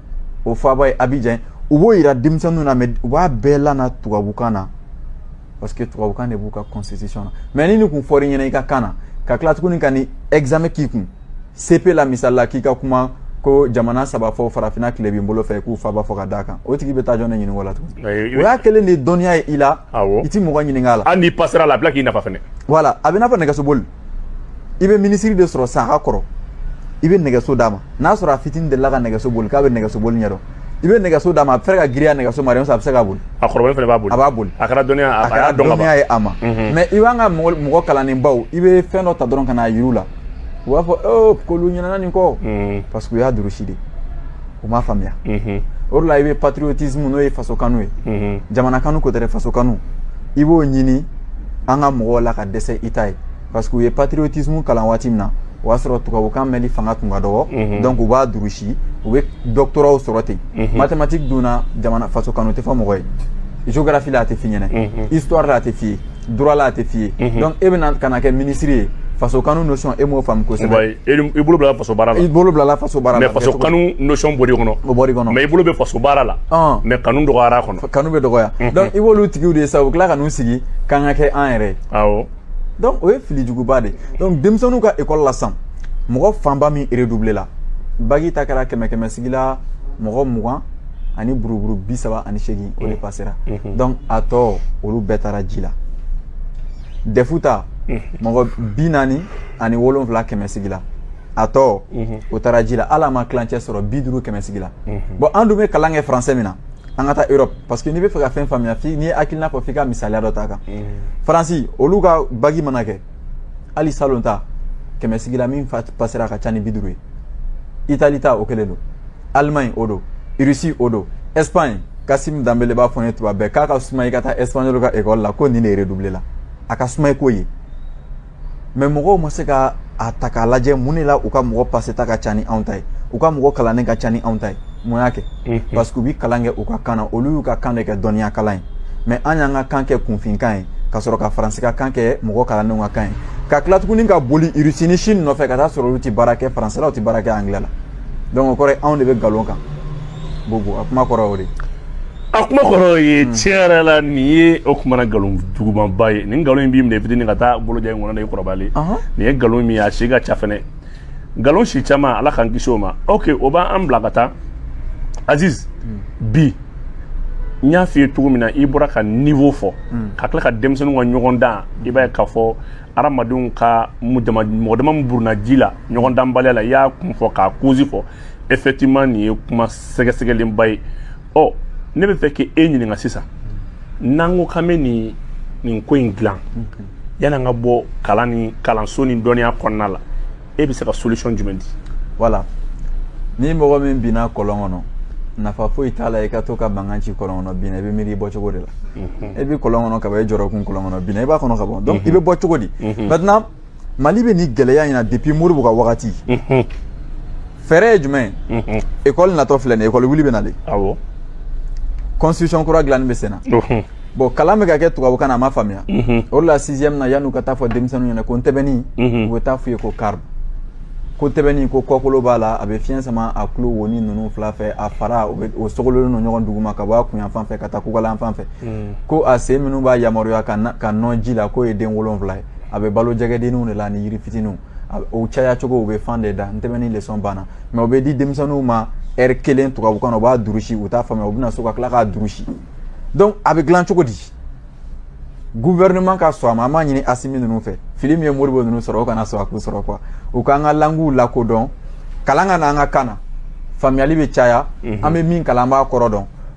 o faaba ye abidjan u b'o yira denmisɛnninw na mais u b'a bɛɛ lana tubabukan na parce que tubabukan de b'u ka constitution na mais ni nin kun fɔr'i ɲɛna i ka kan na ka tila tuguni ka ni examen k'i kun cep la misali la k'i ka kuma ko jamana saba fɔ farafinna tilebin bolo fɛ k'u faaba fɔ ka d'a kan o tigi bɛ taa jɔn ne ɲininka o la tuguni o y'a kɛlen de ye dɔnniya ye i la i ti mɔgɔ ɲininka a la hali n'i pasera la a bila k'i nafa fɛnɛ voilà a bɛ n'a fɔ nɛgɛsoboli i bɛ minisiri de sɔrɔ sa a ka kɔrɔ i bɛ nɛgɛso d'a ma n'a sɔrɔ a fitinin delila ka nɛgɛso boli k'a bɛ nɛgɛso boli ɲɛdɔn i bɛ nɛgɛso d'a ma a bɛ fɛ ka giriya nɛgɛso ma a bɛ se k'a boli a kɔrɔbalen fana b'a boli a b'a boli a kɛra dɔnniya a kɛra dɔnniya ye a ma mhm. mais i b'an ka mɔgɔ kalannenbaw i bɛ fɛn dɔ ta dɔrɔn ka n'a yir'u la u b'a fɔ ee k'olu ɲinɛna nin kɔ mhm. parce que u y'a durusi de u m'a faamuya o de la i bɛ patriotisme n'o ye faso kanu ye jamana kanu ko tɛ dɛ faso kanu i b'o ɲini an ka mɔgɔw la ka dɛsɛ i t'a ye parce que u ye patriotisme kalan waati min na o y'a sɔrɔ tubabukan mɛnli fanga tun ka dɔgɔ donc u b'a durusi u bɛ doctorat sɔrɔ ten mathématique dun na jamana faso kanu tɛ fɔ mɔgɔ ye géographie la a tɛ f'i ɲɛna histoire la a tɛ f'i ye droit la a tɛ f'i ye mhm. donc e bɛna ka na kɛ minisiri ye faso kanu notion e m'o faamu kosɛbɛ i bolo bilala faso baara la i bolo bilala faso baara la mais faso kanu notion bɔr'i kɔnɔ o bɔr'i kɔnɔ mais i bolo bɛ faso baara la mais kanu dɔgɔyara a kɔnɔ kanu bɛ dɔgɔya mhm. donc i b'olu tigiw de ye sa u bɛ tila ka n'u sigi k'an ka kɛ an yɛrɛ ye awɔ donc o ye fili juguba de donc denmisɛnninw ka école la sisan mɔgɔ fanba min redoublé la bagi ta kɛra kɛmɛ kɛmɛ sigi la mɔgɔ mugan ani buruburu bi saba ani seegin o de pasera donc a tɔ olu bɛɛ taara ji la dɛfu ta mɔgɔ bi naani ani wolonfila kɛmɛ sigi la a tɔ o taara ji la hali a ma tilancɛ sɔrɔ bi duuru kɛmɛ sigi la bon an dun bɛ kalan kɛ faransɛ min na an ka taa europe parce que n'i bɛ fɛ ka fɛn faamuya n'i ye hakilina fɔ f'i ka misaliya dɔ ta kan faransi olu ka bagi mana kɛ hali salon ta kɛmɛ sigi la min pasera ka ca ni bi duuru ye itali ta o kelen don alimaɲi o don irisi o don espagne kasimu danbele b'a fɔ n ye tuma bɛɛ k'a ka suma i ka taa espagnol ka ekɔli la ko nin de redoublé la a ka suma i k'o ye mais mɔgɔw ma se ka a ta k'a lajɛ mun de la u ka mɔgɔ paseta ka ca ni anw ta ye u ka mɔgɔ kalannen ka ca ni anw ta ye mun y'a kɛ parce que u bɛ kalan kɛ u ka kan na olu y'u ka kan de kɛ dɔnniya kalan ye mais an y'an ka kan kɛ kunfinkan ye ka sɔrɔ ka faransi ka kan kɛ mɔgɔ kalannenw ka kan ye ka tila tuguni ka boli irisi ni sini nɔfɛ ka taa sɔrɔ olu tɛ baara kɛ faransɛ la u tɛ baara kɛ angilɛ la donc o kɔrɔ ye anw de bɛ nkalon kan bobo a kuma kɔrɔ o de a kuma kɔrɔ ye hmm. tiɲɛ yɛrɛ la nin ye o kumana nkalon jugumanba ye nin nkalon in b'i minɛ fitini ka taa boloja in kɔnɔ na i kɔrɔbalen nin ye nkalon min ye a si ka ca fɛnɛ nkalon si caman ala k'an kisi o ma ok o b'an bila ka taa aziz bi n y'a f'i ye cogo min na i bɔra ka niveau fɔ ka tila ka denmisɛnninw ka ɲɔgɔndan i b'a ye k'a fɔ adamadenw ka mɔgɔ dama min burunna ji la ɲɔgɔn danbaliya la i y'a kun fɔ k'a cause fɔ effectivement nin ye kuma sɛgɛsɛgɛlenba ye ɔ ne bɛ fɛ k'e ɲininka sisan n'an ko k'an bɛ nin ko in dilan yan'an ka bɔ kalanso ni dɔnniya kɔnɔna la e bɛ se ka solution jumɛn di. voilà ni mɔgɔ min binna kɔlɔn kɔnɔ nafa foyi t'a la i ka to ka mankan ci kɔlɔn kɔnɔ binna i bɛ miiri i bɔcogo de la e bɛ kɔlɔn kɔnɔ ka ban e jɔrɔkun kɔlɔn kɔnɔ binna i b'a kɔnɔ ka bɔ donc i bɛ bɔ cogo di maintenant mali bɛ ni gɛlɛya in na depuis modibo ka wagati fɛɛrɛ ye jumɛn ye ekɔli natɔ filɛ nin ekɔli wuli bɛ nale constitution kura dilanni bɛ sen na bon kalan bɛ ka kɛ tubabukan na a ma faamuya o de la sixième na yan'u ka taa fɔ denmisɛnninw ɲɛ na ko ntɛbɛnni u bɛ taa f'u ye ko carpe ko ntɛbɛnni ko kɔkolo b'a la a bɛ fiɲɛ sama a tulo woni ninnu fila fɛ a fara o sogololen don ɲɔgɔn duguma ka bɔ a kun yanfan fɛ ka taa kukala yanfan fɛ ko a sen minnu b'a yamaruya ka nɔn ji la k'o ye den wolonwula ye a bɛ balo jɛgɛdenninw de la ni yiri fitininw o caya cogo u bɛ fan de da terminé lesɔn banna mais o bɛ di denmisɛnninw ma ɛri kelen tubabukan na u b'a durusi u t'a faamuya u bɛna so ka tila k'a durusi donc a bɛ dilan cogo di gouvernement ka sɔn a ma an b'a ɲini asimi ninnu fɛ fili min ye modibo ninnu sɔrɔ o kana sɔn a k'u sɔrɔ quoi u k'an ka languw lakodɔn kalan ka na an ka kan na faamuyali bɛ caya an bɛ min kalan an b'a kɔrɔ dɔn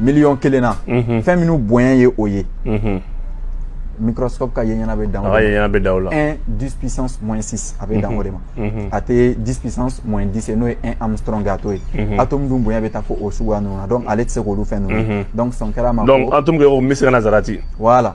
miliyɔn kelen na mhm. fɛn minnu bonya ye o ye mhm. microscope ka ye ɲɛna bɛ dan o de ma 1 10 puissance moins 6 a bɛ dan o de ma a tɛ 10 puissance moins 10 ye n'o ye 1 angström a t'o ye atome dun bonya bɛ taa fo o suguya ninnu na donc ale tɛ se k'olu fɛn ninnu donc sɔn kɛra a ma donc atome kɛ ko misikala zarati voilà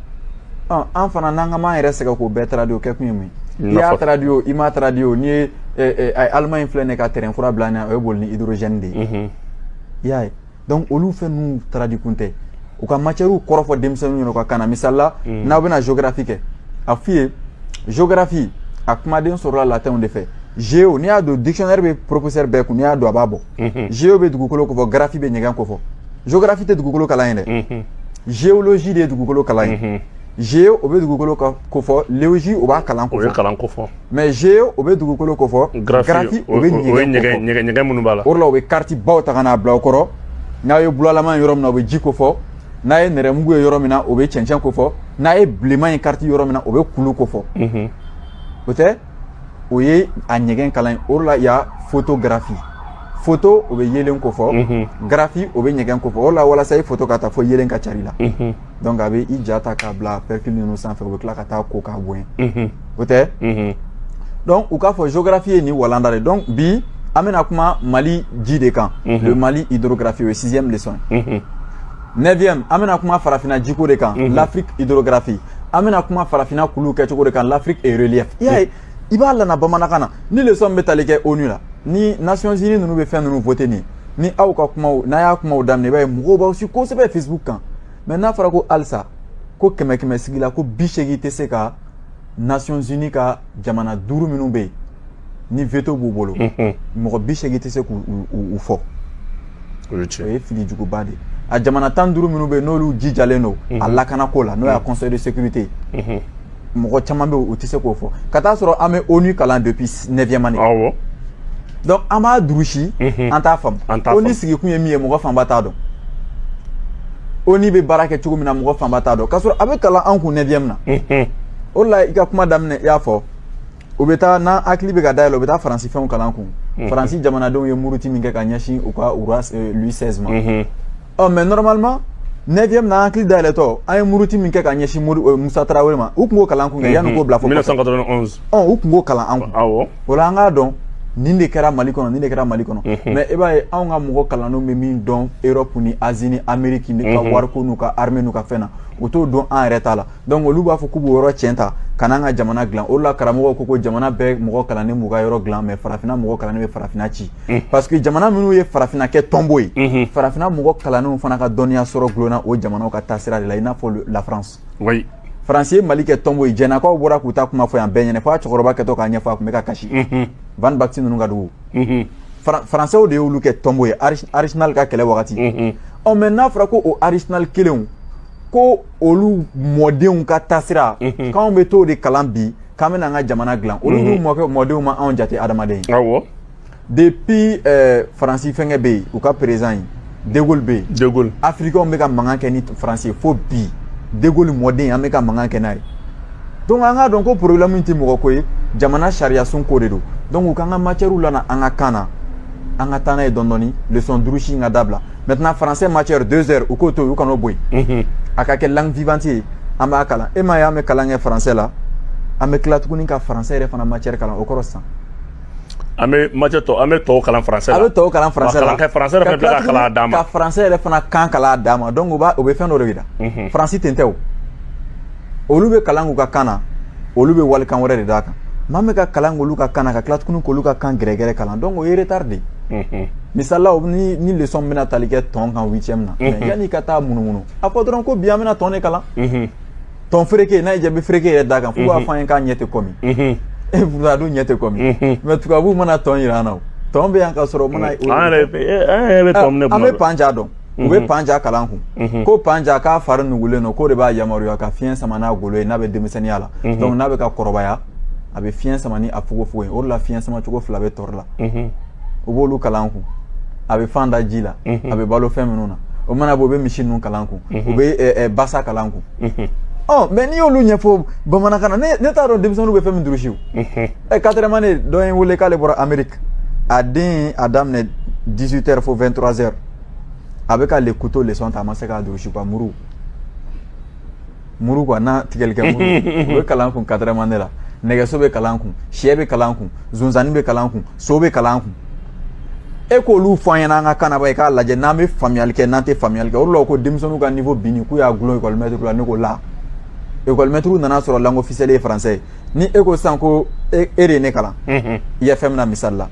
an fana an kan'an yɛrɛ sɛgɛn k'o bɛɛ traduit o kɛ kun ye mun ye n'i y'a traduit o i m'a traduit o n'i ye Allemagne filɛ nin ye ka train kura bila an ɲɛ o ye boli ni hydrogène de ye i y'a ye donc olu fɛn ninnu traduit kun tɛ u ka matière kɔrɔ fɔ denmisɛnninw ɲɛna u ka kan na misali la n'aw bɛna géographie kɛ a f'u ye géographie a kumaden sɔrɔla latinw de fɛ géo n'i y'a don dictionnaire bɛ professeur bɛɛ kun n'i y'a don a b'a bɔ géo bɛ dugukolo kofɔ graphie bɛ ɲɛgɛn kofɔ géographie tɛ dugukolo kalan ye dɛ géologie de ye dugukolo kalan ye géo o bɛ dugukolo kofɔ logie o b'a kalan kofɔ mais géo o bɛ dugukolo kofɔ graphie o bɛ ɲɛgɛn ɲɛgɛn ɲɛgɛn minnu b'a la o de la u bɛ carte baw ta ka n'a bila o kɔrɔ n'a ye bulalama ye yɔrɔ min na o bɛ ji kofɔ n'a ye nɛrɛmugu ye yɔrɔ min na o bɛ cɛncɛn kofɔ n'a ye bilenman ye carte yɔrɔ min na o bɛ kulu kofɔ o tɛ o ye a ɲɛgɛn kalan ye o de la il y a photographie photo o bɛ yelen kofɔ graphie o bɛ ɲɛgɛn kofɔ o de la walasa i photo ka ta fo yelen ka cari i la donc a bɛ i ja ta k'a bila pellicule ninnu sanfɛ o bɛ tila ka taa ko k'a bonya o tɛ donc u k'a fɔ géographie ye nin walanda de donc bi an bɛna kuma mali ji de kan le mali hydrographie o ye sixième leçon ye neuvième an bɛna kuma farafina jiko de kan l'afrique hydrographie an bɛna kuma farafinna kulu kɛcogo de kan l'afrique et relief i y'a ye i b'a lana bamanankan na ni leçon bɛ tali kɛ onu la ni nations unies ninnu bɛ fɛn ninnu vote nin ni aw ka kumaw n'a y'a kumaw daminɛ i b'a ye mɔgɔw b'aw si kosɛbɛ facebook kan mais n'a fɔra ko halisa ko kɛmɛ kɛmɛ sigi la ko bi seegin tɛ se ka nations unies ka jamana duuru minnu bɛ yen ni veto b'u bolo mɔgɔ bi segin tɛ se k'u fɔ o ye fili juguba de ye a jamana tan duuru minnu bɛ yen n'olu jijalen don a lakanako la n'o y'a conseil de sécurité ye mɔgɔ caman bɛ yen u tɛ se k'o fɔ ka t'a sɔrɔ an bɛ onu kalan depuis neuvième année donc an b'a durusi an t'a faamu onu sigikun ye min ye mɔgɔ fanba t'a dɔn ONU bɛ baara kɛ cogo min na mɔgɔ fanba t'a dɔn k'a sɔrɔ a bɛ kalan an kun neuvième na o la i ka kuma daminɛ i y'a fɔ u bɛ taa n'an hakili bɛ ka dayɛlɛ u bɛ taa faransi fɛnw kalan kun faransi jamanadenw ye muruti min kɛ ka ɲɛsin u ka roi Louis 16 ma ɔ mais normalement neuvième na an hakili dayɛlɛtɔ an ye muruti min kɛ ka ɲɛsin musa tarawele ma u tun k'o kalan kun kɛ yanni k'o bila fo 1991 U tun k'o kalan an kun o la an k'a dɔn nin de kɛra mali kɔnɔ nin de kɛra mali kɔnɔ mais i b'a ye anw ka mɔgɔ kalannenw bɛ min dɔn Europe ni Asie ni Amérique ka wariko n'u ka armée n'u ka fɛn na u t'o dɔn an yɛrɛ ta la donc olu b'a fɔ k'u b'o yɔrɔ cɛn ta ka na an ka jamana dila o la karamɔgɔ ko ko jamana bɛɛ mɔgɔ kalannen b'u ka yɔrɔ dila mais farafinna mɔgɔ kalannen bɛ farafinna ci parce que jamana minnu ye farafinna kɛ tɔnbo ye farafinna mɔgɔ kalannen fana ka dɔnniya sɔrɔ dulonna o jamana ka taasira de la i n'a fɔ la Fran oui faransi ye mali kɛ tɔnbo ye jɛnakaw bɔra k'u ta kuma fɔ yan bɛɛ ɲɛ na fo a cɛkɔrɔba kɛtɔ k'a ɲɛfɔ a tun bɛ ka kasi mhm. Van Baxy ninnu ka dugu mhm. faransɛw de y'olu kɛ tɔnbo ye Archinard ka kɛlɛ wagati mhm. ɔ mais n'a fɔra ko o Archinard kelenw ko olu mɔdenw ka taasira k'anw bɛ t'o de kalan bi k'an bɛna an ka jamana dilan olu n'u mɔkɛ mɔdenw ma anw jate adamaden ye depuis euh, faransi fɛnkɛ bɛ yen u ka président De Gaulle bɛ yen De Gaulle afirikɛnw bɛ ka mankan kɛ ni faransi ye fo bi De Gaulle mɔden an bɛ ka mankan kɛ n'a ye donc an k'a dɔn ko problème tɛ mɔgɔ ko ye jamana sariyasun ko de don donc u k'an ka matière lana an ka kan na an ka taa n'a ye dɔɔni dɔɔni leçon durusi in ka dabila maintenant français matière deux heures u k'o to yen u kan'o bɔ yen a ka kɛ langue vivante ye an b'a kalan e m'a ye an bɛ kalan kɛ français la an bɛ tila tuguni ka français yɛrɛ fana matière kalan o kɔrɔ sisan An bɛ matière tɔ an bɛ tɔw kalan français la, an bɛ tɔw kalan français la, ka français yɛrɛ fana tila ka kalan dama, ka français yɛrɛ fana kan kalan dama donc u b'a u bɛ fɛn dɔ de jira, unhun, France ten tɛ o, olu bɛ kalan k'u ka kan na, olu bɛ walikan wɛrɛ de d'a kan, mais an bɛ ka kalan k'olu ka kan na ka tila tuguni k'olu ka kan gɛrɛgɛrɛ kalan donc o ye retard de ye, unhun, misali la ni ni leçon min bɛna tali kɛ tɔn kan huitième na, unhun, mais yanni i ka taa munumunu a fɔ dɔrɔn ko bi an bɛna tɔn de kalan, unhun tɔn fereke n'a ye jabi fereke yɛrɛ d'a kan f'u b'a fɔ an ye k'a ɲɛ tɛ kɔmi e fula dun ɲɛ tɛ kɔmi mais tubabuw mana tɔn yira an na tɔn bɛ yan ka sɔrɔ mana an yɛrɛ bɛ tɔn minɛ an bɛ panja dɔn u bɛ panja kalan kun ko panja k'a fari nugulen don k'o de b'a yamaruya ka fiɲɛ sama n'a golo ye n'a bɛ denmisɛnninya la donc n'a bɛ ka kɔrɔbaya a bɛ fiɲɛ sama ni a fogofogo ye o la fiɲɛ sama cogo fila bɛ tɔri la u b'olu kalan kun a bɛ fan da ji la a bɛ balo fɛn minnu na o mana bɔ u bɛ misi ninnu kalan kun u bɛ basa kalan kun ɔ mais n'i y'olu ɲɛfɔ bamanankan na ne t'a dɔn denmisɛnninw bɛ fɛn min durusi ɛ quatrième année dɔ ye n wele k'ale bɔra ameriki a den a daminɛ 18 heures fo 23 heures a bɛ ka le couteau leçon ta a ma se k'a durusi ka muru muru quoi n'a tigɛli kɛ muru u bɛ kalan kun quatrième année la nɛgɛso bɛ kalan kun syɛ bɛ kalan kun zonzanni bɛ kalan kun so bɛ kalan kun e k'olu fɔ an ɲɛna an ka kan na ba i k'a lajɛ n'an bɛ faamuyali kɛ n'an tɛ faamuyali kɛ o de la ko denmisɛnninw ka niveau binni k'u y'a gulon ekɔlimɛtiriw la ne ko la ekɔlimɛtiriw nan'a sɔrɔ langue officielle ye français ye ni e ko sisan ko e de ye ne kalan IFM na misali la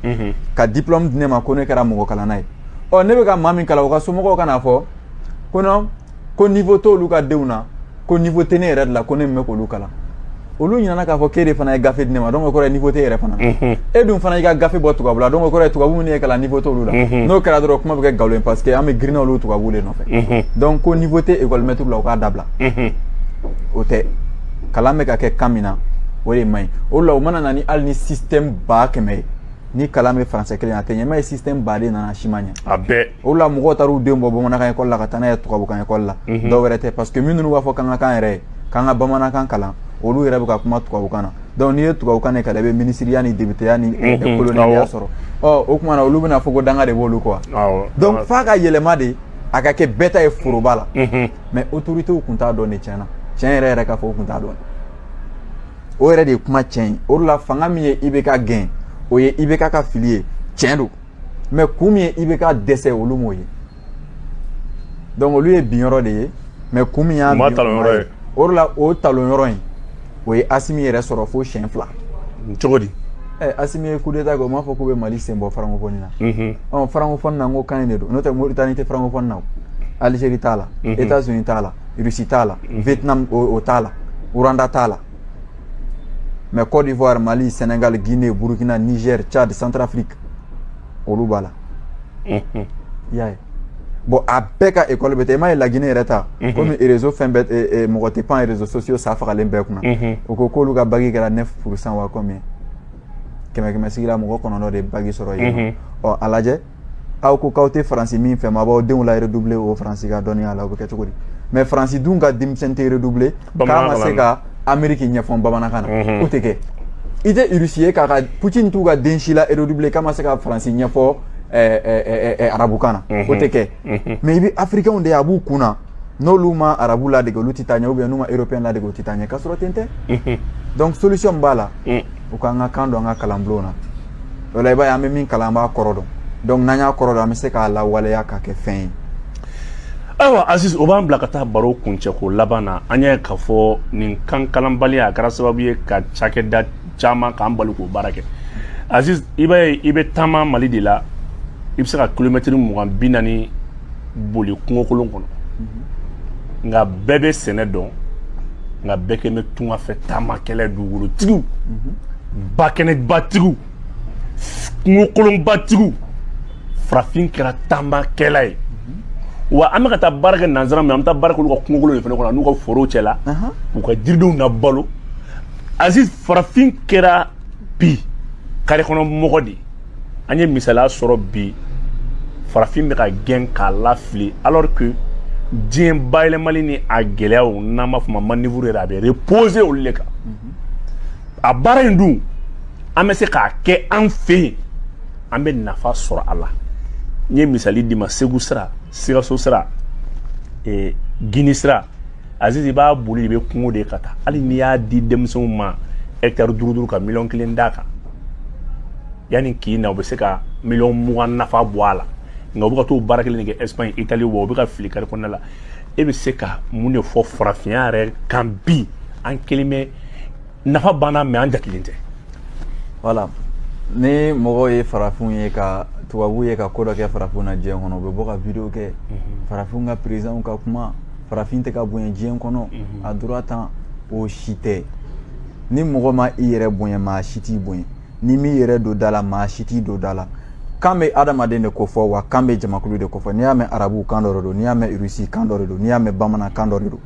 ka diplôme di ne ma ko ne kɛra mɔgɔ kalanna ye ɔ ne bɛ ka maa min kalan o ka somɔgɔw ka n'a fɔ ko non ko niveau t'olu ka denw na ko niveau tɛ ne yɛrɛ de la ko ne min bɛ k'olu kalan olu ɲinana k'a fɔ k'e de fana ye gafe di ne ma donc o kɔrɔ ye niveau t'e yɛrɛ fana e dun fana y'i ka gafe bɔ tubabu la donc o kɔrɔ ye tubabu minnu y'e kalan niveau t'olu la n'o kɛra dɔrɔn kuma bɛ kɛ nkalon ye parce que an bɛɛ girinna olu tubabuw de nɔfɛ donc ko niveau tɛ école maître la u k'a dabila o tɛ kalan bɛ ka kɛ kan min na o de man ɲi o la u mana na ni hali ni système ba kɛmɛ ye ni kalan bɛ faransɛ kelen na a tɛ ɲɛ m'a ye système ba de nana si ma ɲɛ a bɛɛ o la mɔgɔw taar'u den bɔ bamanankan ekɔli la ka taa n'a ye tubabukan ekɔli la mhm. dɔ wɛrɛ tɛ parce que minnu b'a fɔ k'an ka kan yɛrɛ ye k'an ka bamanankan kalan olu yɛrɛ bɛ ka kuma tubabukan na donc n'i ye tubabukan de kalan i bɛ minisiriya ni depiteya ni mhm. kolonɛliya sɔrɔ ɔ o tuma na olu bɛna fɔ ko danga de b'olu quoi donc f'a ka yɛlɛma de a ka kɛ bɛɛ ta ye foroba la mhm. mais autorités tun t'a dɔn de tiɲɛ na tiɲɛ yɛrɛ yɛrɛ k'a fɔ u tun t'a dɔn o yɛrɛ de ye kuma tiɲɛ ye o de la fanga min ye IBK gɛn o ye IBK ka fili ye tiɲɛ don mais kun min ye IBK dɛsɛ olu m'o ye donc olu ye binyɔrɔ de ye mais kun min y'a ye o de la o talonyɔrɔ in o ye asimi yɛrɛ sɔrɔ fo siɲɛ fila cogo di eh, asimi ye coup d'état kɛ o m'a fɔ k'u bɛ mali sen bɔ francophonie na mhm. ɔ francophonie na n ko kan in de don n'o tɛ mauritanie tɛ francophonie na o algérie t'a la mhm. états unis t'a la russie t'a la mhm. vietnam o t'a la rwanda t'a la mais Côte d'Ivoire Mali Sénégal Guinée Burkina Niger Tchad Centrafrique olu b'a la i y'a ye bon a bɛɛ ka école bɛ ten i m'a ye laginɛ yɛrɛ ta komi réseau fɛn bɛɛ mɔgɔ tɛ pan réseaux sociaux sa fagalen bɛɛ kunna u ko k'olu ka bac kɛra 9 pourcent wa combien kɛmɛ kɛmɛ sigi la mɔgɔ kɔnɔntɔn de ye bac sɔrɔ yen ɔ a lajɛ aw ko k'aw tɛ faransi min fɛ mais aw b'aw denw la redoubler o faransi ka dɔnniya la o bɛ kɛ cogo di mais faransi dun ka denmisɛn tɛ redoubler k'a ma se ka ameriki ɲɛfɔ bamanankan na mhm. o tɛ kɛ i tɛ irisi ye k'a ka putin t'u ka den si la redoubler k'a ma se ka faransi ɲɛfɔ eh, eh, eh, arabukan na mhm. o tɛ kɛ mhm. mais i bɛ afirikɛnw de ye a b'u kun na n'olu ma arabu ladege olu tɛ taa ɲɛ ou bien n'u ma européen ladege o tɛ taa ɲɛ k'a sɔrɔ ten tɛ donc solution min b'a la mm. u k'an ka kan don an ka kalanbulonw na o la i b'a ye an bɛ min kalan an b'a kɔrɔ dɔn donc n'an y'a kɔrɔ dɔn an bɛ se k'a lawaleya k'a kɛ fɛn ye ayiwa aziz o b'an bila ka taa baro kuncɛ ko laban na an y'a ye k'a fɔ nin kan kalanbaliya a kɛra sababu ye ka cakɛda caman k'an bali k'o baara kɛ aziz i b'a ye i bɛ taama mali de la i bɛ se ka kilomɛtiri mugan bi naani boli kungokolon kɔnɔ nka bɛɛ bɛ sɛnɛ dɔn nka bɛɛ kɛ bɛ tunga fɛ taamakɛla dugukolotigiw bakɛnɛbatigiw kungokolonbatigiw farafin kɛra taamakɛla ye wa an bɛ ka taa baara kɛ nanzara min an bɛ taa baara kɛ olu ka kungokolon de fana kɔnɔ n'u ka forow cɛla u ka jiridenw na balo aziz farafin kɛra bi kari kɔnɔ mɔgɔ de ye an ye misaliya sɔrɔ bi farafin bɛ ka gɛn k'a lafili alors que diɲɛ bayɛlɛmali ni a gɛlɛyaw n'an b'a fɔ ma manœuvre yɛrɛ a bɛ reposer olu de kan a baara in dun an bɛ se k'a kɛ an fɛ yen an bɛ nafa sɔrɔ a la n ye misali d'i ma segu sira sikaso sira ee gini sira aziz i b'a boli i bɛ kungo de ka taa hali n'i y'a di denmisɛnw ma hɛkitari duuru duuru ka miliyɔn kelen d'a kan yanni k'i na u bɛ se ka miliyɔn mugan nafa bɔ a la nka u bɛ ka t'o baara kelen de kɛ espagne italie wa u bɛ ka fili kari kɔnɔna la e bɛ se ka mun de fɔ farafinya yɛrɛ kan bi an kelen bɛ nafa b'an na mais an jatelen tɛ voilà ni mɔgɔw ye farafinw ye ka tubabu ye ka ko dɔ kɛ farafinw na diɲɛ kɔnɔ u bɛ bɔ ka video kɛ mhm. farafinw ka perezidanw ka kuma farafin tɛ ka bonya diɲɛ kɔnɔ mhm. a droit tan o si tɛ ni mɔgɔ ma i yɛrɛ bonya maa si t'i bonya n'i m'i yɛrɛ don da la maa si t'i don da la kan bɛ adamaden de ko fɔ wa kan bɛ jamakulu de ko fɔ n'i y'a mɛn arabu kan dɔ de don n'i y'a mɛn irisi kan dɔ de don n'i y'a mɛn bamanan kan dɔ de don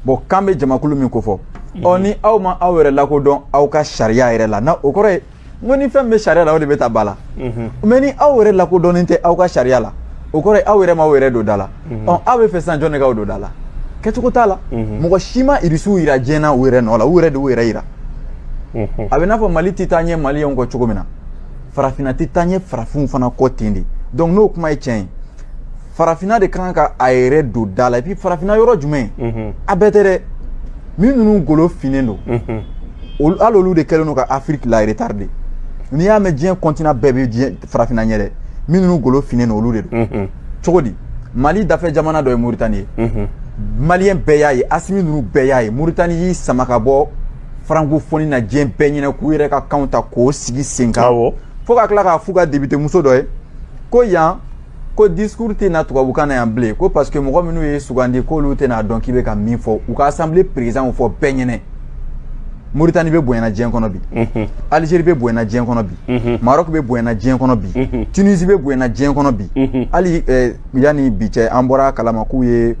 bɔn kan bɛ jamakulu min ko fɔ ɔ ni aw ma aw yɛrɛ lakodɔn aw ka sariya yɛrɛ la na o kɔrɔ ye n ko ni fɛn bɛ sariya la o de bɛ taa ba la mais ni aw yɛrɛ lakodɔnnen tɛ aw ka sariya la o kɔrɔ ye aw yɛrɛ ma aw yɛrɛ don da la mhm. ɔ aw b'a fɛ sisan jɔn de k'aw don da la kɛcogo t'a la mhm. mɔgɔ si ma irisiw yira diɲɛ na u yɛrɛ nɔ la u yɛrɛ de y'u yɛrɛ yira mhm. a bɛ n'a fɔ mali tɛ taa ɲɛ maliyɛnw kɔ cogo min na farafinna tɛ taa ɲɛ farafinw fana kɔ ten de donc n'o kuma ye tiɲɛ ye farafinna de ka kan ka a yɛrɛ don da la et puis farafinna yɔrɔ jumɛn a bɛɛ tɛ dɛ min ninnu golo finnen don hali olu de kɛlen don ka afiriki la retarder n'i y'a mɛn diɲɛ continent bɛɛ bɛ diɲɛ farafinna ɲɛ dɛ min ninnu golo finnen don olu de don cogo di mali dafɛ jamana dɔ ye moritani ye maliyɛn bɛɛ y'a ye asimi ninnu bɛɛ y'a ye moritani y'i sama ka bɔ francophonie na diɲɛ bɛɛ ɲɛna k'u yɛrɛ ka kanw ta k'o sigi sen kan fo ka tila k'a f'u ka depitemuso dɔ ye ko yan ko discours tɛ na tubabukan na yan bilen ko parce que mɔgɔ minnu y'i sugandi k'olu tɛn'a dɔn k'i bɛ ka min fɔ u ka assemblée président fɔ bɛɛ ɲɛna Mauritanie bɛ bonyana diɲɛ kɔnɔ bi Algérie bɛ bonyana diɲɛ kɔnɔ bi Maroc bɛ bonyana diɲɛ kɔnɔ bi Tunisie bɛ bonyana diɲɛ kɔnɔ bi hali yanni bi cɛ an bɔra a kalama k'u ye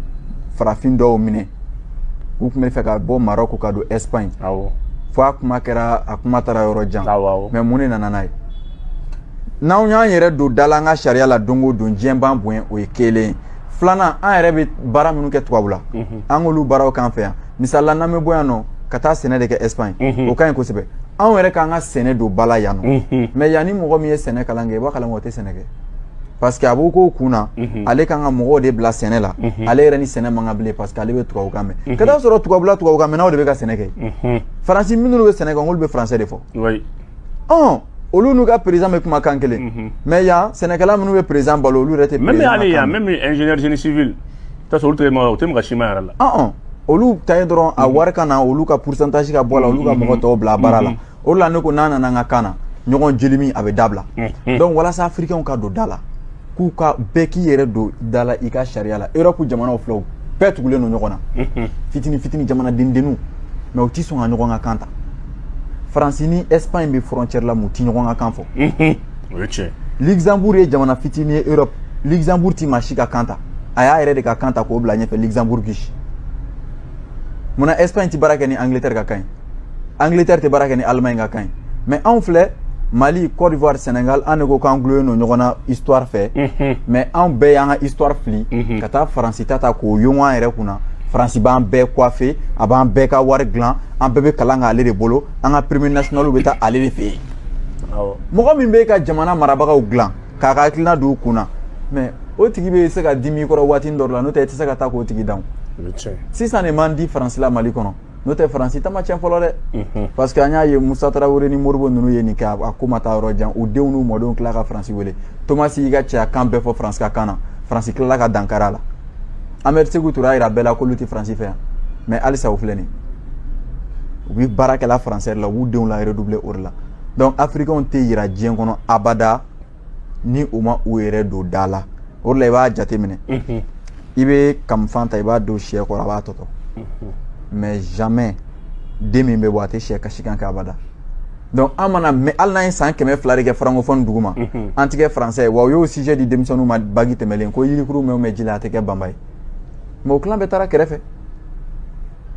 farafin dɔw minɛ u tun b'a fɛ ka bɔ Maroc ka don Espagne fo a kuma kɛra a kuma taara yɔrɔ jan mais mun de nana n'a ye n'anw y'an yɛrɛ don da la an ka sariya la don o don diɲɛ b'an bonya o ye kelen ye filanan an yɛrɛ bɛ baara minnu kɛ tubabula an k'olu baaraw k'an fɛ yan misali la n'an bɛ bɔ yan nɔ ka taa sɛnɛ de kɛ Espagne o ka ɲi kosɛbɛ anw yɛrɛ k'an ka sɛnɛ don ba la yan nɔ mais yan ni mɔgɔ min ye sɛnɛ kalan kɛ i b'a kalan kɛ o tɛ sɛnɛ kɛ parce que a b'o k'o kun na ale kan ka mɔgɔw de bila sɛnɛ la ale yɛrɛ ni sɛnɛ man kan bilen parce que ale bɛ tubabukan mɛn ka taa sɔrɔ tubabula tubabukan mɛnnaw de bɛ ka sɛnɛ kɛ faransi minnu bɛ sɛnɛ kɛ olu bɛ français de fɔ olu n'u ka président bɛ kuma kan kelen mhm. mais yan sɛnɛkɛla minnu bɛ président balo olu yɛrɛ tɛ même hali yan même ingénieur génie civil t'a sɔrɔ olu tɛ ma o tɛ maga ciment yɛrɛ la ɔn olu ta ye dɔrɔn a mhm. wari ka na olu ka pourcentage ka bɔ a la olu ka mhm. mɔgɔ tɔw bila a baara la o de la ne ko n'an nana an ka kan na ɲɔgɔn jelimi a bɛ dabila donc walasa africainw ka don da la k'u ka bɛɛ k'i yɛrɛ don da la i ka sariya la europe jamanaw filɛ u bɛɛ tugulen don ɲɔgɔn na mhm. fitini fitini jamanadendenninw mais u ti sɔn ka ɲɔgɔn ka kan ta faransi ni espagne bɛ frontière la mais u ti ɲɔgɔn ka kan fɔ mhm. o ye tiɲɛ luxembourg ye jamana fitini ye europe luxembourg ti maa si ka kan ta a y'a yɛrɛ de ka kan ta k'o bila ɲɛfɛ luxembourgish munna espagne ti baara kɛ ni angleterre ka kan ye angleterre tɛ baara kɛ ni allemagne ka kan ye mais anw filɛ mali côte d'ivoire sénégal an de ko k'an dulonnen don ɲɔgɔn na histoire fɛ mhm. mais anw bɛɛ y'an ka histoire fili mhm. ka taa faransi ta ta k'o yongo an yɛrɛ kunna faransi b'an bɛɛ coiffer a b'an bɛɛ ka wari dilan an bɛɛ bɛ kalan k'ale de bolo an ka premier nationaliw bɛ taa ale de fɛ yen mɔgɔ min bɛ ka jamana marabagaw dilan k'a ka hakilina don u kun na mais o tigi bɛ se ka dimi i kɔrɔ waati dɔ la n'o tɛ i tɛ se ka taa k'o tigi dan sisan de man di faransi la mali kɔnɔ n'o tɛ faransi ta ma tiɲɛ fɔlɔ dɛ parce que an y'a ye musa tarawele ni modibo ninnu ye nin kɛ a ko ma taa yɔrɔ jan u denw n'u mɔdenw tila ka faransi wele thomas y'i ka cɛyakan bɛɛ fɔ faransi ka kan na faransi tilala ka dankari a la ahmed sékou touré y'a yira bɛɛ la k'olu tɛ faransi fɛ yan mais halisa u filɛ nin u bɛ baara kɛ la français la u b'u denw la redoubler o de la donc africainw tɛ yiriwa diɲɛ kɔnɔ abada ni u ma u yɛrɛ don da la o la i b'a jateminɛ i bɛ kamifan ta i b'a don sɛ kɔrɔ a b'a tɔtɔ mais jamais den min bɛ bɔ a tɛ sɛ kasikan kɛ abada donc an mana mɛn hali n'an ye san kɛmɛ fila de kɛ francophonie dugu ma an tɛ kɛ français ye wa u y'o sujet di denmisɛnninw ma bac tɛmɛlen ko yirikuru mɛn mɛn ji la a tɛ kɛ banba ye mais o tilan bɛɛ taara kɛrɛfɛ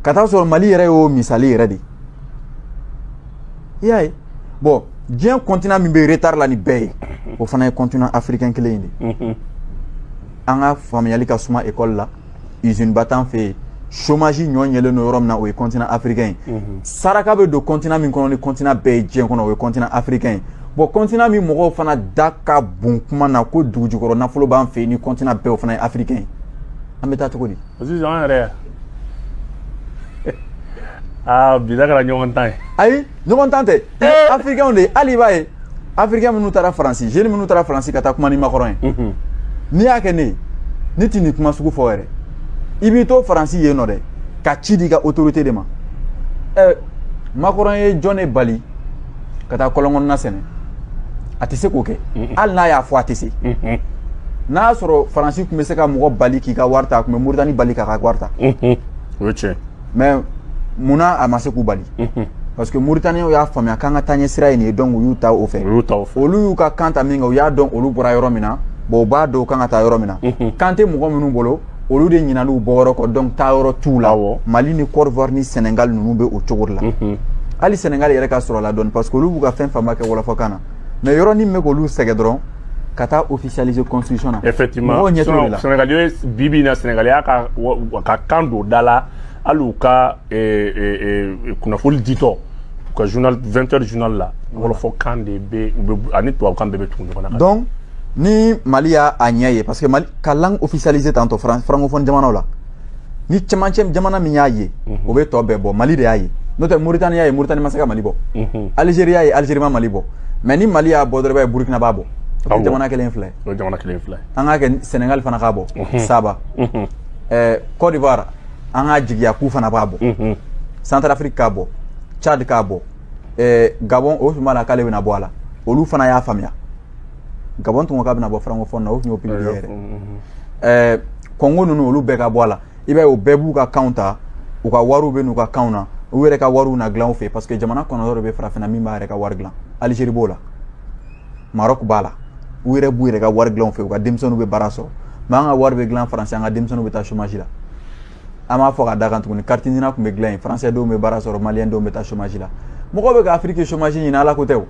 ka taa sɔrɔ mali yɛrɛ y'o misali yɛrɛ de ye i y'a ye bon diɲɛ continent min bɛ retard la ni bɛɛ ye o fana ye continent africain kelen in de an ka faamuyali ka suma école la usineba t'an fɛ yen chômage ɲɔ ɲɛlen don yɔrɔ min na o ye continent africain ye saraka bɛ don continent min kɔnɔ ni continent bɛɛ ye diɲɛ kɔnɔ o ye continent africain ye bon continent min mɔgɔw fana da ka bon kuma na ko dugujukɔrɔ nafolo b'an fɛ yen ni continent bɛɛ o fana ye africain ye an bɛ taa cogo di sisan an yɛrɛ aa bi da kɛra ɲɔgɔn tan ye ayi ɲɔgɔn tan tɛ afirikɛnw de ye hali i b'a ye afirikɛn minnu taara faransi jeunes minnu taara faransi ka taa kuma ni makɔrɔn ye mhm. n'i y'a kɛ ne ye ne tɛ nin kuma sugu fɔ yɛrɛ i b'i to faransi yen nɔ dɛ ka ci di i ka autorité de ma makɔrɔn ye jɔn de bali ka taa kɔlɔn kɔnɔna sɛnɛ a tɛ se k'o kɛ hali n'a y'a fɔ a tɛ se n'a y'a sɔrɔ faransi tun bɛ se ka mɔgɔ bali k'i ka wari ta a tun bɛ moritani bali k'a ka wari ta o ye tiɲɛ mais munna a ma se k'u bali parce que mauritaniens y'a faamuya k'an ka taaɲɛ sira ye nin ye donc u y'u ta o fɛ olu y'u ka kan ta min kɛ u y'a dɔn olu bɔra yɔrɔ min na bon u b'a dɔn u kan ka taa yɔrɔ min na kan tɛ mɔgɔ minnu bolo olu de ɲinan'u bɔ yɔrɔ kɔ donc taa yɔrɔ t'u la mali ni côte d'ivoire ni sénégal ninnu bɛ o cogo de la mhm. hali sénégal yɛrɛ ka surun o la dɔɔni parce que olu b'u ka fɛn fanba kɛ wɔlɔfɔkan na mais yɔrɔnin min bɛ k'olu sɛgɛn dɔrɔn ka taa officialiser constitution na effectivement mɔgɔw ɲɛ t'o de la sénégal ye bi bi in na sénégal y'a ka ka kan don da la hali u ka eh, eh, eh, kunnafoni ditɔ u ka journal 20 heures journal la wɔlɔfɔkan de bɛ ani tubabukan bɛɛ bɛ tugu ɲɔgɔn na donc ni mali y'a a ɲɛ ye parce que mali ka langue officialisée tantɔ francophone jamanaw la ni cɛmancɛ jamana min y'a ye mhm. o bɛ tɔ bɛɛ bɔ mali de y'a ye n'o tɛ moritani y'a ye moritani ma se ka mali bɔ mhm. algérie y'a ye algérie ma mali bɔ mais ni mali y'a bɔ dɔrɔn i b'a ye burkina b'a bɔ jamana kelen filɛ jamana kelen filɛ an k'a kɛ sénégal fana k'a bɔ mhm. saba eh, côte d'ivoire an k'a jigiya k'u fana b'a bɔ centrafrique k'a bɔ tchad k'a bɔ eh, gabon o tun b'a la k'ale bɛna bɔ a la olu fana y'a faamuya gabon tun ko k'a bɛna bɔ francophone na o tun y'o publier yɛrɛ ɛɛ congo ninnu olu bɛɛ ka bɔ a la i b'a ye o bɛɛ b'u ka kanw ta u ka wariw bɛ n'u ka kanw na u yɛrɛ ka wariw na dilan u fɛ parce que jamana kɔnɔntɔn de bɛ farafinna min b'a yɛrɛ ka wari dilan algérie b'o la maroc b'a la u yɛrɛ b'u yɛrɛ ka wari dilan u fɛ u ka denmisɛnninw bɛ baara sɔrɔ mais an ka wari bɛ dilan faransi an ka denmisɛnninw bɛ taa chômage la an b'a fɔ ka da kan tuguni carte nina tun bɛ dilan yen français denw bɛ baara sɔrɔ maliyɛn denw bɛ taa chômage la mɔgɔw bɛ ka afiriki chômage ɲini ala ko tɛ o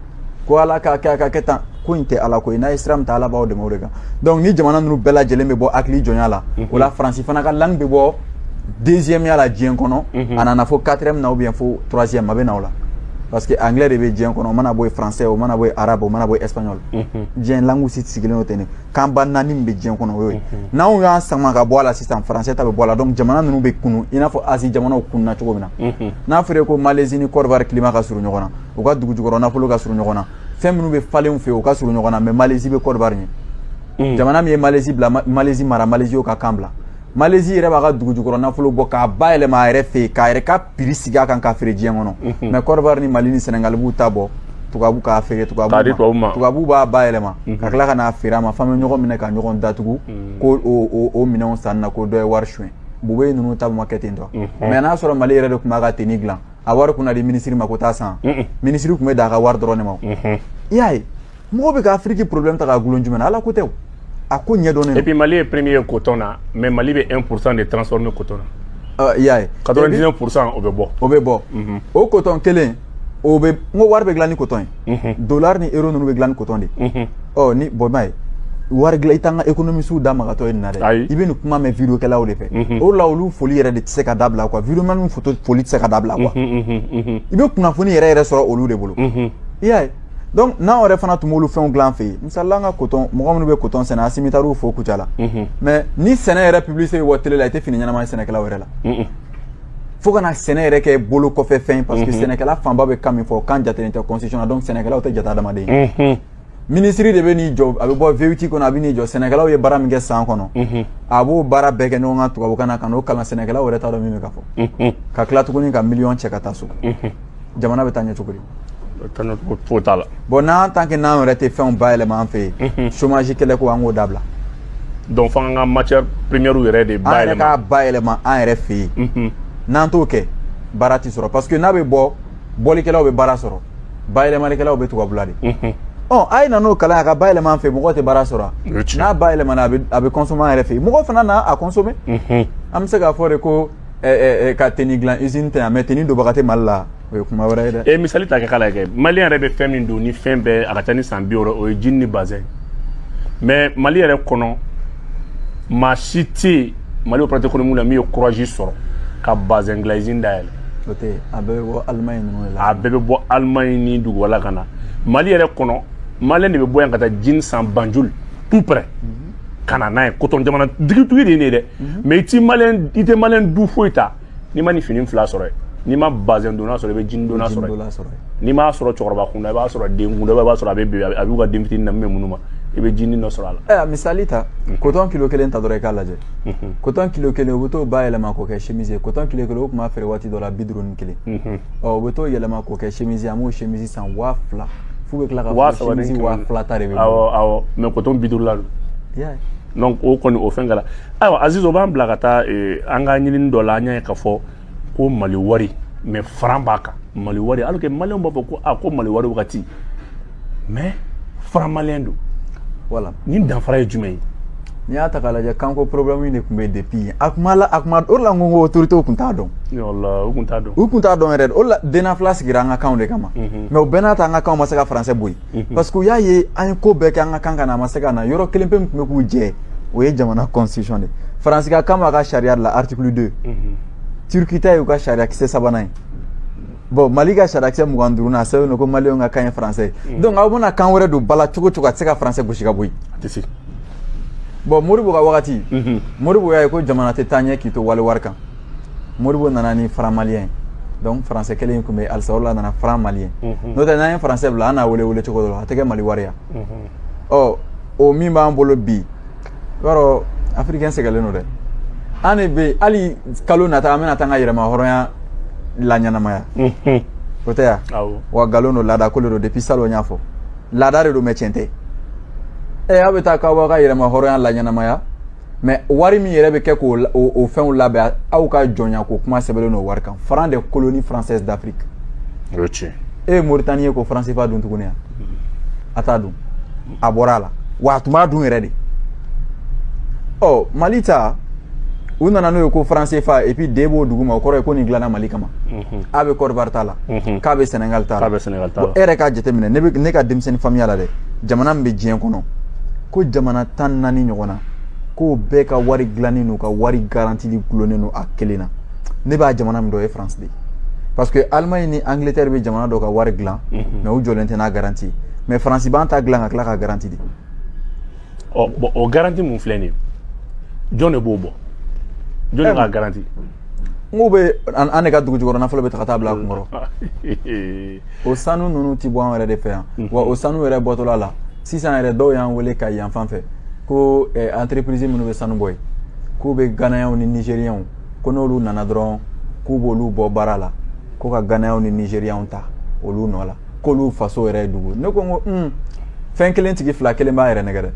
ko ala ka kɛ a ka kɛ tan ko in tɛ ala ko ye n'a ye sira min ta ala b'aw dɛmɛ o de kan donc ni jamana ninnu bɛɛ lajɛlen bɛ bɔ hakili jɔnya la o la faransi fana ka langue bɛ bɔ deuxième ya la diɲɛ kɔnɔ a nana fo quatrième na ou bien fo troisième a bɛ na o la parce que anglais de bɛ diɲɛ kɔnɔ o mana bɔ yen français o mana bɔ yen arabe o mana bɔ yen espagnol diɲɛ langue si sigilen o tɛ nin kan ba naani min bɛ diɲɛ kɔnɔ o y'o ye n'anw y'an sama ka bɔ a la sisan français ta bɛ bɔ a la donc jamana ninnu bɛ kunun i n'a fɔ asie jamanaw kununna cogo min na n'a fɔra ko malaisie ni côte d'ivoire climat ka surun ɲɔgɔn na u ka dugujukɔrɔ nafolo ka surun ɲɔgɔn na fɛn minnu bɛ falen u fɛ yen u ka surun ɲɔgɔn na mais malaisie bɛ côte d'ivoire ɲɛ jamana min ye malaisie bila malaisie mara malaisie y'o ka kan bila malezi yɛrɛ b'a ka dugujukɔrɔ nafolo bɔ k'a bayɛlɛma a yɛrɛ fɛ yen k'a yɛrɛ ka prix sigi a kan k'a feere diɲɛ kɔnɔ mhm. mais kɔdiwari ni mali ni sɛnɛgali b'u ta bɔ tubabu k'a feere tubabu ma tubabu b'a bayɛlɛma mhm. ka tila ka n'a feere an ma f'an bɛ ɲɔgɔn minɛ ka ɲɔgɔn datugu mhm. ko o minɛnw sanni na ko dɔ ye wari suɲɛ Boubèye ninnu ta ma kɛ ten tɔ mais n'a sɔrɔ mali yɛrɛ de tun b'a ka tenue dilan a wari kun na di minisiri ma ko taa san minisiri tun bɛ da a ka wari dɔrɔn de ma i y'a ye mɔgɔ bɛ ka afiriki problème ta k'a gulon jumɛn na ala ko tɛ o a ko ɲɛdɔnnen et puis mali ye premier ye coton na mais mali bɛ 1 pourcent de transformer coton na i y'a ye 99 pourcent o bɛ bɔ o bɛ bɔ o coton kelen o bɛ n ko wari bɛ dilan ni coton ye dollar ni euro ninnu bɛ dilan ni coton de ye ɔ ni bɔn b'a ye wari dilan i t'an ka économistew da magatɔ ye nin na dɛ i bɛ nin kuma mɛn video kɛlaw de fɛ o la olu foli yɛrɛ de tɛ se ka dabila quoi video manw foto foli tɛ se ka dabila quoi i bɛ kunnafoni yɛrɛ yɛrɛ sɔrɔ olu de bolo i y'a ye donc n'an yɛrɛ fana tun b'olu fɛnw dilan an fɛ yen misali la an ka coton mɔgɔ minnu bɛ coton sɛnɛ Asimi taar'u fo Kucala la mhm. mais ni sɛnɛ yɛrɛ publicité bɛ bɔ télé la i tɛ fini ɲɛnama ye sɛnɛkɛlaw yɛrɛ la fo ka na sɛnɛ yɛrɛ kɛ bolokɔfɛfɛn parce que mhm. sɛnɛkɛla fanba bɛ kan min fɔ kan jatelen tɛ constitution na donc sɛnɛkɛlaw tɛ jate adamaden ye mhm. minisiri de bɛ n'i jɔ a bɛ bɔ V8 kɔnɔ a bɛ n'i jɔ sɛnɛkɛlaw ye baara min kɛ san kɔnɔ a b'o baara bɛɛ kɛ ɲɔgɔn kan tubabukan na ka n'o kalan sɛnɛkɛlaw yɛrɛ t'a dɔn min bɛ ka fɔ ka tila tuguni ka miliyɔn cɛ ka taa so jamana bɛ taa ɲɛ cogo di foyi t'a la bon n'an tant que n'an yɛrɛ tɛ fɛnw bayɛlɛma an fɛ yen chômage kɛlɛ ko an k'o dabila donc fo an ka matière première yɛrɛ de bayɛlɛma an yɛrɛ k'a bayɛlɛma an yɛrɛ fɛ yen n'an t'o kɛ baara tɛ sɔrɔ parce que n'a bɛ bɔ bɔlikɛlaw bɛ baara sɔrɔ bayɛlɛmalikɛlaw bɛ tubabula de ɔ a ye na n'o kalan a ka bayɛlɛma an fɛ mɔgɔ tɛ baara sɔrɔ n'a bayɛlɛmana a bɛ consommer an yɛrɛ fɛ yen mɔgɔ fana na a consommer an bɛ se k'a fɔ de ko ka tenue dilan usine tɛ yan mais tenue donbaga tɛ mali la o ye kuma wɛrɛ ye dɛ e misali ta kɛ k'a lajɛ maliyɛn yɛrɛ bɛ fɛn min don ni fɛn bɛɛ a ka ca ni san bi wɔɔrɔ o ye jini ni bazɛn mais mali yɛrɛ kɔnɔ maa si tɛ mali opérateur économique la min ye kuraji sɔrɔ ka bazɛn dilan usine dayɛlɛ a bɛɛ bɛ bɔ Allemagne a bɛɛ bɛ bɔ Allemagne ni dugu wɛrɛ la ka na mali yɛrɛ kɔnɔ maliyɛn de bɛ bɔ yan ka taa jini san banjul tout près ka na n'a ye kotɔn jamana dugutigi de ye nin ye dɛ mais i ti maliyɛn i tɛ maliyɛn du foyi ta n'i ma nin fini fila sɔrɔ yen n'i ma bazɛn donna sɔrɔ i bɛ jini donna sɔrɔ yen n'i m'a sɔrɔ cɛkɔrɔba kunda i b'a sɔrɔ den kunda i b'a sɔrɔ a bɛ bi a b'u ka den fitini na min bɛ minnu ma i bɛ jini dɔ sɔrɔ a la ɛ a misali ta kotɔn kilo kelen ta dɔrɔn i k'a lajɛ kotɔn kilo kelen u bɛ t'o bayɛlɛma k'o kɛ chemise ye kotɔn kilo kelen u tun b'a feere waati dɔ la bi duuru ni kelen ɔ u bɛ t'o yɛlɛma k'o kɛ chemise ye an b'o chemise san waa fila f'u bɛ tila ka waa saba ni waa fila ta de bɛ awɔ awɔ mais kotɔn bi duuru la don donc o kɔni o fɛn kɛra ayiwa aziz o b'an bila ka taa eh, an ka ɲinini dɔ la an y'a ye k'a fɔ ko mali wari mais faran b'a kan mali wari alors que maliyɛnw b'a fɔ ko a ko mali wari wagati mais faran maliyɛn don voilà nin danfara ye jumɛn ye n'i y'a ta k'a lajɛ kanko problème de tun bɛ depuis yen a kuma la a kuma o de la n ko ko autorité tun t'a dɔn u tun t'a dɔn u tun t'a dɔn yɛrɛ de o de la dnafla sigira an ka kanw de kama mhm. mais o bɛɛ n'a ta an ka kanw ma se ka français bɔ yen mhm. parce que u y'a ye an ye ko bɛɛ kɛ an ka kan ka na a ma se ka na yɔrɔ kelen pe min tun bɛ k'u jɛ o ye jamana constitution de faransi ka kan b'a ka sariya de la article 2 mhm. turki ta y'u ka sariya kisɛ sabanan ye bɔn mali ka sariya kisɛ mugan ni duurunan sɛbɛn ko mali ka kan ye faransɛ mm. donc aw bɛna kan wɛrɛ don ba la cogo o cogo a tɛ se ka faransɛ gosi ka bɔ yen bɔn modibo ka wagati mm-hmm. modibo y'a ye ko jamana tɛ taa ɲɛ k'i to wali wari kan modibo nana ni franc malien donc faransɛ kelen in tun bɛ halisa o la a nana franc malien mm-hmm. n'o tɛ n'an ye faransɛ bila an n'a wele wele cogo dɔ la a tɛ kɛ mali wari ya mm-hmm. ɔ o min b'an bolo bi i b'a dɔn afirikɛn sɛgɛnlen don dɛ an de bɛ hali kalo nata an bɛna taa an ka yɛrɛma hɔrɔnya laɲɛnamaya o tɛ yan wa nkalon don laada ko de don depuis salon n y'a fɔ laada de don mais tiɲɛ tɛ ɛ aw bɛ taa k'aw b'aw ka yɛrɛma hɔrɔnya laɲɛnamaya mais wari min yɛrɛ bɛ kɛ k'o o fɛnw labɛn aw ka jɔnya ko kuma sɛbɛnlen don wari kan franc des colonies françaises d'afrique o ye tiɲɛ e ye moritani ye ko franc cfa dun tuguni yan a t'a dun a bɔra a la wa a tun b'a dun yɛrɛ de ɔ mali ta u nana n'o ye ko franc cfa et puis d b'o dugu ma o kɔrɔ ye ko nin dilanna mali kama mhm. a bɛ kɔdiwari ta la mhm. k bɛ sɛnɛgali ta la e yɛrɛ k'a jateminɛ ne ka denmisɛnnin faamuya la dɛ jamana min bɛ diɲɛ kɔnɔ ko jamana tan naani ɲɔgɔn na k'o bɛɛ ka wari dilannen n'u ka wari garantili gulonnen don a kelen na ne bɛ jamana min dɔn o ye faransi de ye parce que alimaɲi ni angilɛtɛri bɛ jamana dɔ ka wari dilan mhm. mais u jɔlen tɛ n'a garanti mais faransi b'an ta dilan ka tila ka garanti di ɔ bɔn o garanti min filɛ nin ye jɔn de b'o bɔ jɔn de eh, ka garanti n k'u bɛ an de ka dugu jukɔrɔ nafolo bɛɛ ta ka taa bila a kunkɔrɔ o sanu ninnu ti bɔ an yɛrɛ de fɛ yan mhm. wa o sanu yɛrɛ bɔtɔla la sisan yɛrɛ dɔw y'an wele kayi yan fan fɛ ko eh, entreprise minnu bɛ sanu bɔ yen k'u bɛ ganayaw ni nigeriyanw ko n'olu nana dɔrɔn k'u b'olu bɔ baara la ko ka ganayaw ni nigeriyanw ta olu nɔ la k'olu faso yɛrɛ ye dugu ne ko n ko un fɛn kelen tigi fila kelen b'a yɛrɛ nɛgɛn dɛ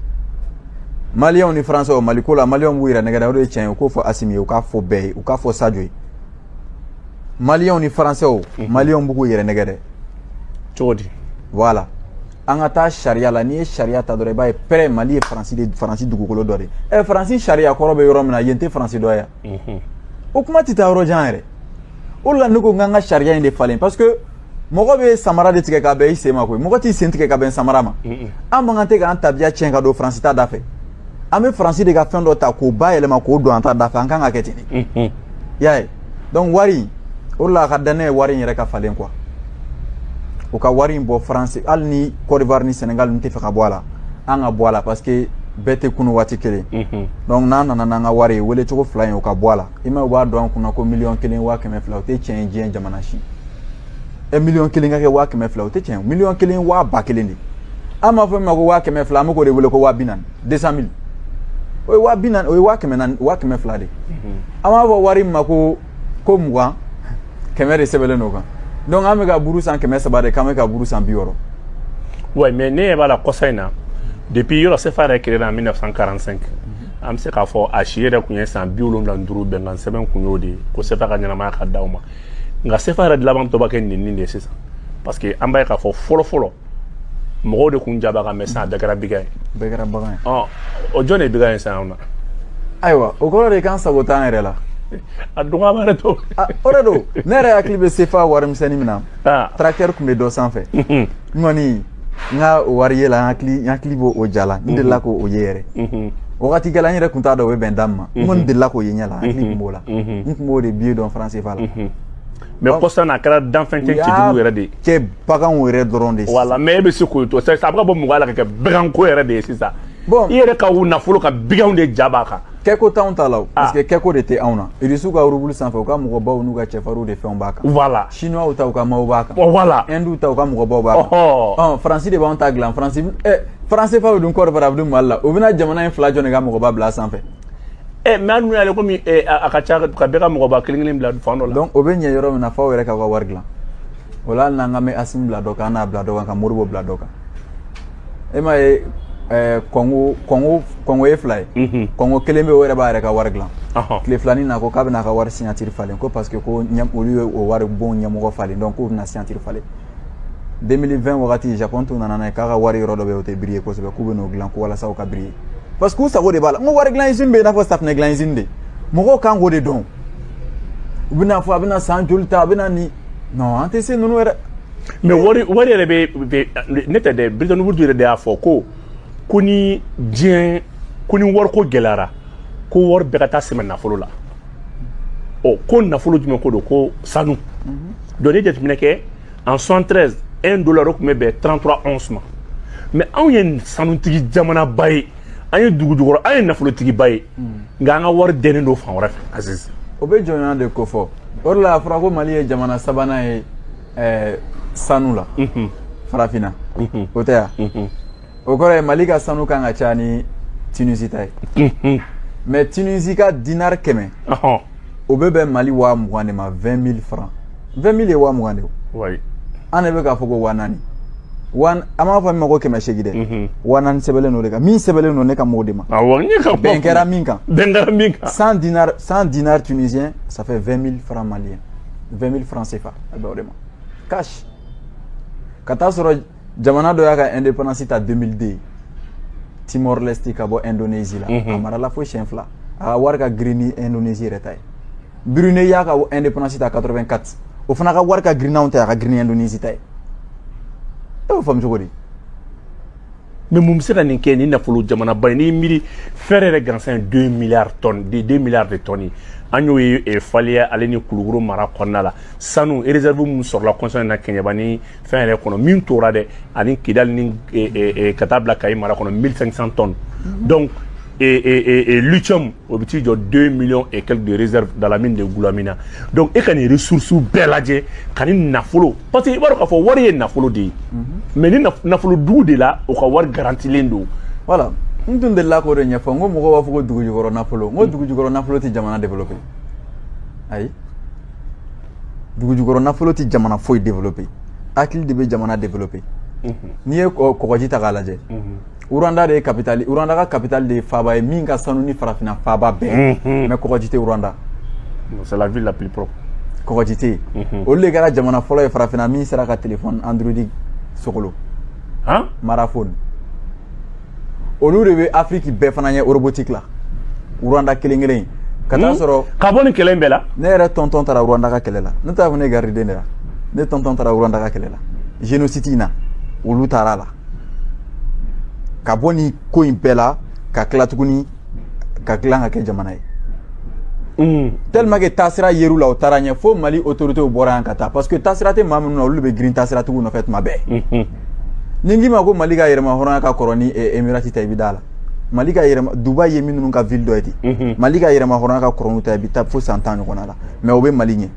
maliyɛnw ni faransɛw mali ko la maliyɛnw b'u yɛrɛ nɛgɛn dɛ o de ye tiɲɛ ye u k'o fɔ asimi ye u k'a fɔ bɛɛ ye u k'a fɔ sajo ye maliyɛnw ni faransɛw maliyɛnw bɛ k'u yɛrɛ nɛgɛn dɛ cogo di voilà an ka taa sariya la n'i ye sariya ta dɔrɔn i b'a ye pɛrɛ mali ye faransi de faransi dugukolo dɔ de ye ɛ faransi sariya kɔrɔ bɛ yɔrɔ min na yen tɛ faransi dɔ ye yan o kuma tɛ taa yɔrɔ jan yɛrɛ o de la ne ko n k'an ka sariya in de falen parce que mɔgɔ bɛ samara de tigɛ ka bɛn i sen ma koyi mɔgɔ t'i sen tigɛ ka bɛn samara ma an man kan tɛ k'an tabiya tiɲɛ ka don faransi ta da fɛ an bɛ faransi de ka fɛn dɔ ta k'o bayɛlɛma k'o don an ta da fɛ an kan ka kɛ ten de y'a ye donc wari o de la a ka danaya ye wari in yɛrɛ ka falen quoi u ka wari in bɔ faransi hali ni kɔdiwari ni senegal t'a fɛ ka bɔ a la an ka bɔ a la parce que bɛɛ tɛ kunun waati kelen mhm. donc n'an nana n'an ka wari ye wele cogo fila in o ka bɔ a la i ma u b'a don an kun na ko miliyɔn kelen waa kɛmɛ fila o tɛ tiɲɛ ye diɲɛ jamana si ɛ miliyɔn kelen ka kɛ waa kɛmɛ fila o tɛ tiɲɛ miliyɔn kelen waa ba kelen de an b'a fɔ min ma ko waa kɛmɛ fila an bɛ k'o de wele ko waa bi naani deux cent mille o ye waa bi naani o ye waa kɛmɛ naani waa kɛmɛ fila de mhm. an b'a fɔ wari min ma ko ko mugan kɛmɛ de sɛbɛnlen n'o kan donc an bɛ ka buru san kɛmɛ saba de k'an bɛ ka buru san bi wɔɔrɔ oui mais ne ɲɛ b'a la kɔsa in na depuis yɔrɔ sefa yɛrɛ créé en 1945 an bɛ se k'a fɔ a si yɛrɛ tun ye san bi wolonwula ni duuru bɛnkan sɛbɛn kun y'o de ye ko sefa ka ɲɛnamaya ka d'aw ma nka sefa yɛrɛ de laban tɔ b'a kɛ nin nin de ye sisan parce que an b'a ye k'a fɔ fɔlɔ fɔlɔ mɔgɔw de kun ja b'a kan mɛ sisan a bɛɛ kɛra bigan ye bɛɛ kɛra bagan ye ɔ o jɔn de ye bigan ye sisan anw na ayiwa o kɔrɔ de k'an sago t'an yɛrɛ la a dɔgɔyama yɛrɛ to Ah, o de don ne yɛrɛ hakili bɛ sefa warimisɛnnin min na Ah. tracteur tun bɛ dɔ sanfɛ n kɔni n ka o wari ye la n hakili n hakili b'o o ja la n delila k'o o ye yɛrɛ Mhm. wagati kɛla n yɛrɛ tun t'a dɔn o bɛ bɛn da min ma n kɔni delila k'o ye ɲɛ la n hakili tun b'o la n tun b'o de biye dɔn faran sefa la mɛ kɔsa n'a kɛra danfɛn cɛ cɛjugu yɛrɛ de ye cɛ baganw yɛrɛ dɔrɔn de voilà mɛ e bɛ se k'o to sisan a bɛ ka bɔ mɔgɔ la ka kɛ baganko yɛrɛ de ye sisan bɔn i yɛrɛ ka u nafolo kan biganw de ja b'a kan kɛko t'anw ta la o parce que kɛko de tɛ anw na irisiw ka rubulu sanfɛ u ka mɔgɔbaw n'u ka cɛfarinw de fɛnw b'a kan voilà chinois ta u ka maaw b'a kan voilà hindu ta u ka mɔgɔbaw b'a kan ɔn faransi de b'anw ta dilan faransi faran sefa bɛ dun kɔdiwari a bɛ dun mali la u bɛna jamana in fila jɔn de ka mɔgɔba bila sanfɛ ɛ eh, mɛ an dun y'ale komi eh, a ka ca ka bɛɛ ka mɔgɔba kelen kelen bila fan dɔ la donc o bɛ ɲɛ yɔrɔ min na f'aw yɛrɛ k'aw ka wari dilan o la hali n'an ka mɛ asimi bila dɔ kan an n'a bila dɔ kan ka modibo bila dɔ kan e m'a ye eh, kɔngo kɔngo kɔngo ye fila ye mhm. kɔngo kelen bɛ o yɛrɛ b'a yɛrɛ ka wari dilan tile filanin na ko k'a bɛna a ka wari signatiri falen ko parce que ko olu ye o waribon ɲɛmɔgɔ falen donc k'u bɛna signatiri falen 2020 wagati japon tun nana n'a ye k'a ka wari yɔrɔ dɔ bɛ yen o tɛ briller kosɛbɛ k'u bɛn'o dilan ko walasa o ka briller parce que u sago de b'a la n ko wari dilan izini bɛ i n'a fɔ safinɛ dilan izini de mɔgɔw kan k'o de dɔn u bɛna fɔ a bɛna san joli ta a bɛna nin non an tɛ se ninnu yɛrɛ mɛ wari wari yɛrɛ bɛ ne tɛ dɛ Bretton Woods yɛrɛ de y'a fɔ ko ko ni diɲɛ ko ni wariko gɛlɛyara ko wari bɛɛ ka taa sɛmɛ nafolo la ɔ ko nafolo jumɛn ko don ko sanu Donc n'i jateminɛ kɛ en 73 un dollar o tun bɛ bɛn 33 onces ma mɛ anw ye sanutigi jamanaba ye an ye dugujukɔrɔ an ye nafolotigiba ye nka an ka wari dennen don fan wɛrɛ fɛ o bɛ jɔnya de kofɔ o la a fɔra ko mali ye jamana sabanan ye sanu la farafinna o tɛ yan o kɔrɔ ye mali ka sanu kan ka ca ni tunisi ta ye mais tunisi ka dinari kɛmɛ o bɛ bɛn mali waa mugan de ma 20 mille franc 20 mille ye waa mugan de o an de bɛ k'a fɔ ko waa naani an b'a fɔ min ma ko kɛmɛ seegin dɛ waa naani sɛbɛnlen don de kan min sɛbɛnlen don ne kan b'o de ma bɛn kɛra min kan bɛn kɛra min kan cent dinars cent dinars tunisiens ça fait 20 mille franc malien 20 mille franc CFA a bɛ o de ma cash ka taa sɔrɔ jamana dɔ y'a ka indépendance ta 2002 Timor Leste ka bɔ Indonésie la a marala fo siɲɛ fila a ka wari ka girin ni Indonésie yɛrɛ ta ye Brunei y'a ka indépendance ta 84 o fana ka wari ka girin n'anw ta ye a ka girin ni Indonésie ta ye e b'o faamu cogo di mais mun bɛ se ka nin kɛ ni nafolo jamanaba ye n'i miiri fer yɛrɛ gansan ye 2 milliards tonnes de 2 milliards de tonnes an y'o ye faliya ale ni kulukɔrɔ mara kɔnɔna la sanu réserve minnu sɔrɔla kɔsa in na kɛɲɛba ni fɛn yɛrɛ kɔnɔ min tora dɛ ani kidali ni eh, eh, eh, ka taa bila kayi mara kɔnɔ 1500 tonnes mhm. donc lithium o bɛ t'i jɔ 2 millions et quelques de réserve dans la mine de Goulamina donc e ka nin ressources bɛɛ lajɛ ka nin nafolo parce que i b'a dɔn k'a fɔ wari ye nafolo de ye mhm. mais ni nafolo dugu de la o ka wari garantilen don voilà n tun delila k'o de ɲɛfɔ n ko mɔgɔw b'a fɔ ko dugujukɔrɔ nafolo n ko mm. dugujukɔrɔ nafolo tɛ jamana développer ayi dugujukɔrɔ nafolo tɛ jamana foyi développé hakili de bɛ jamana développé mhm. n'i ye kɔgɔji ta k'a lajɛ mhm. Rwanda de ye capitale Rwanda ka capitale de ye faaba ye min ka sanu ni farafinna faabaw bɛɛ mhm. mais kɔgɔji tɛ Rwanda c'est la ville la plus propre kɔgɔji tɛ yen olu de kɛra jamana fɔlɔ ye farafinna min sera ka téléphone android sogolo mara phone olu de bɛ Afrique bɛɛ fana ɲɛ robotique la Rwanda kelen kelen ka taa hmm? sɔrɔ ka bɔ nin kɛlɛ in bɛɛ la ne yɛrɛ tonton taara Rwanda ka kɛlɛ la ne t'a fɔ ne gardien de la ne tonton taara Rwanda ka kɛlɛ la génocide in na olu taara a la ka bɔ nin ko in bɛɛ la ka tila tuguni k'a dilan k'a kɛ jamana ye Mm. tellement que taasira yer'u la u taara ɲɛ fo mali autorités bɔra yan ka taa parce que taasira tɛ maa minnu na olu de bɛ girin taasiratigiw nɔfɛ tuma bɛɛ mm-hmm. ni n k'i ma ko mali ka yɛrɛma hɔrɔnya ka kɔrɔ ni eh, emirati ta i bɛ d'a la mali ka yɛrɛma dubai ye minnu ka ville dɔ ye ten mm-hmm. mali ka yɛrɛma hɔrɔnya ka kɔrɔ n'u ta i bɛ taa fo san tan ɲɔgɔnna la mais o bɛ mali ɲɛ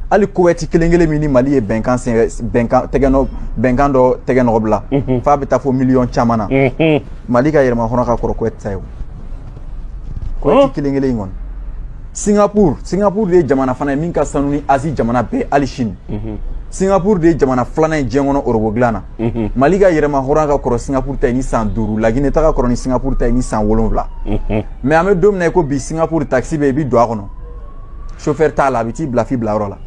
hali kuwɛti kelen kelen min ni mali ye bɛnkan bɛnkan tɛgɛnɔ bɛnkan dɔ tɛgɛnɔ bila f'a bɛ taa fo miliyɔn caman na mali ka yɛrɛma hɔrɔnya ka kɔrɔ kuwɛti ta ye o kuwɛti kelen kelen in kɔni singapur singapur de ye jamana fana ye min ka sanu ni azi jamana bɛɛ hali sini singapur de ye jamana filanan ye diɲɛ kɔnɔ orobo dilan na mali ka yɛrɛma hɔrɔnya ka kɔrɔ singapur ta ye ni san duuru lagine ta ka kɔrɔ ni singapur ta ye ni san wolonwula mais an bɛ don min na i ko bi singapur takisi bɛ i bi don a kɔnɔ chauffeur t'a la a bɛ t'i bila f'i bilayɔrɔ la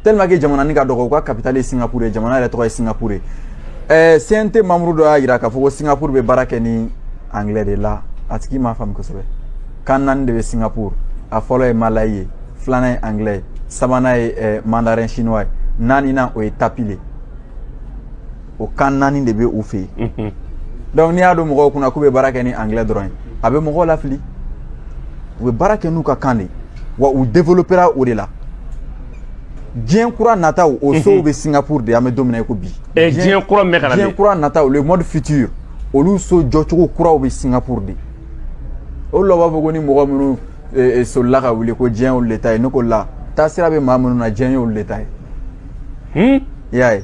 tellement que jamana ni ka dɔgɔ u ka capitale ye singapour ye jamana yɛrɛ tɔgɔ ye singapour ye ɛɛ cnt membre dɔ y'a jira k'a fɔ ko singapour bɛ baara kɛ ni anglais de la a tigi m'a faamu kosɛbɛ kan naani de bɛ singapour a fɔlɔ ye malayi ye filanan ye anglais ye sabanan ye ɛɛ mandarin chinois ye naaninan o ye tamil de ye o kan naani de bɛ u fɛ yen donc n'i y'a don mɔgɔw kun na k'u bɛ baara kɛ ni anglais dɔrɔn ye a bɛ mɔgɔw lafili u bɛ baara kɛ n'u ka kan de ye wa u développera o de la diɲɛ kura nataw o sow bɛ Singapour de an bɛ don min na i ko bi diɲɛ kura min bɛ ka na diɲɛ kura nataw le monde futur olu so jɔcogo kuraw bɛ Singapour de o de la u b'a fɔ ko ni mɔgɔ minnu e, e, solila ka wuli ko diɲɛ y'olu le ta ye ne ko la taasira bɛ maa minnu na diɲɛ y'olu le ta ye hmm? i y'a ye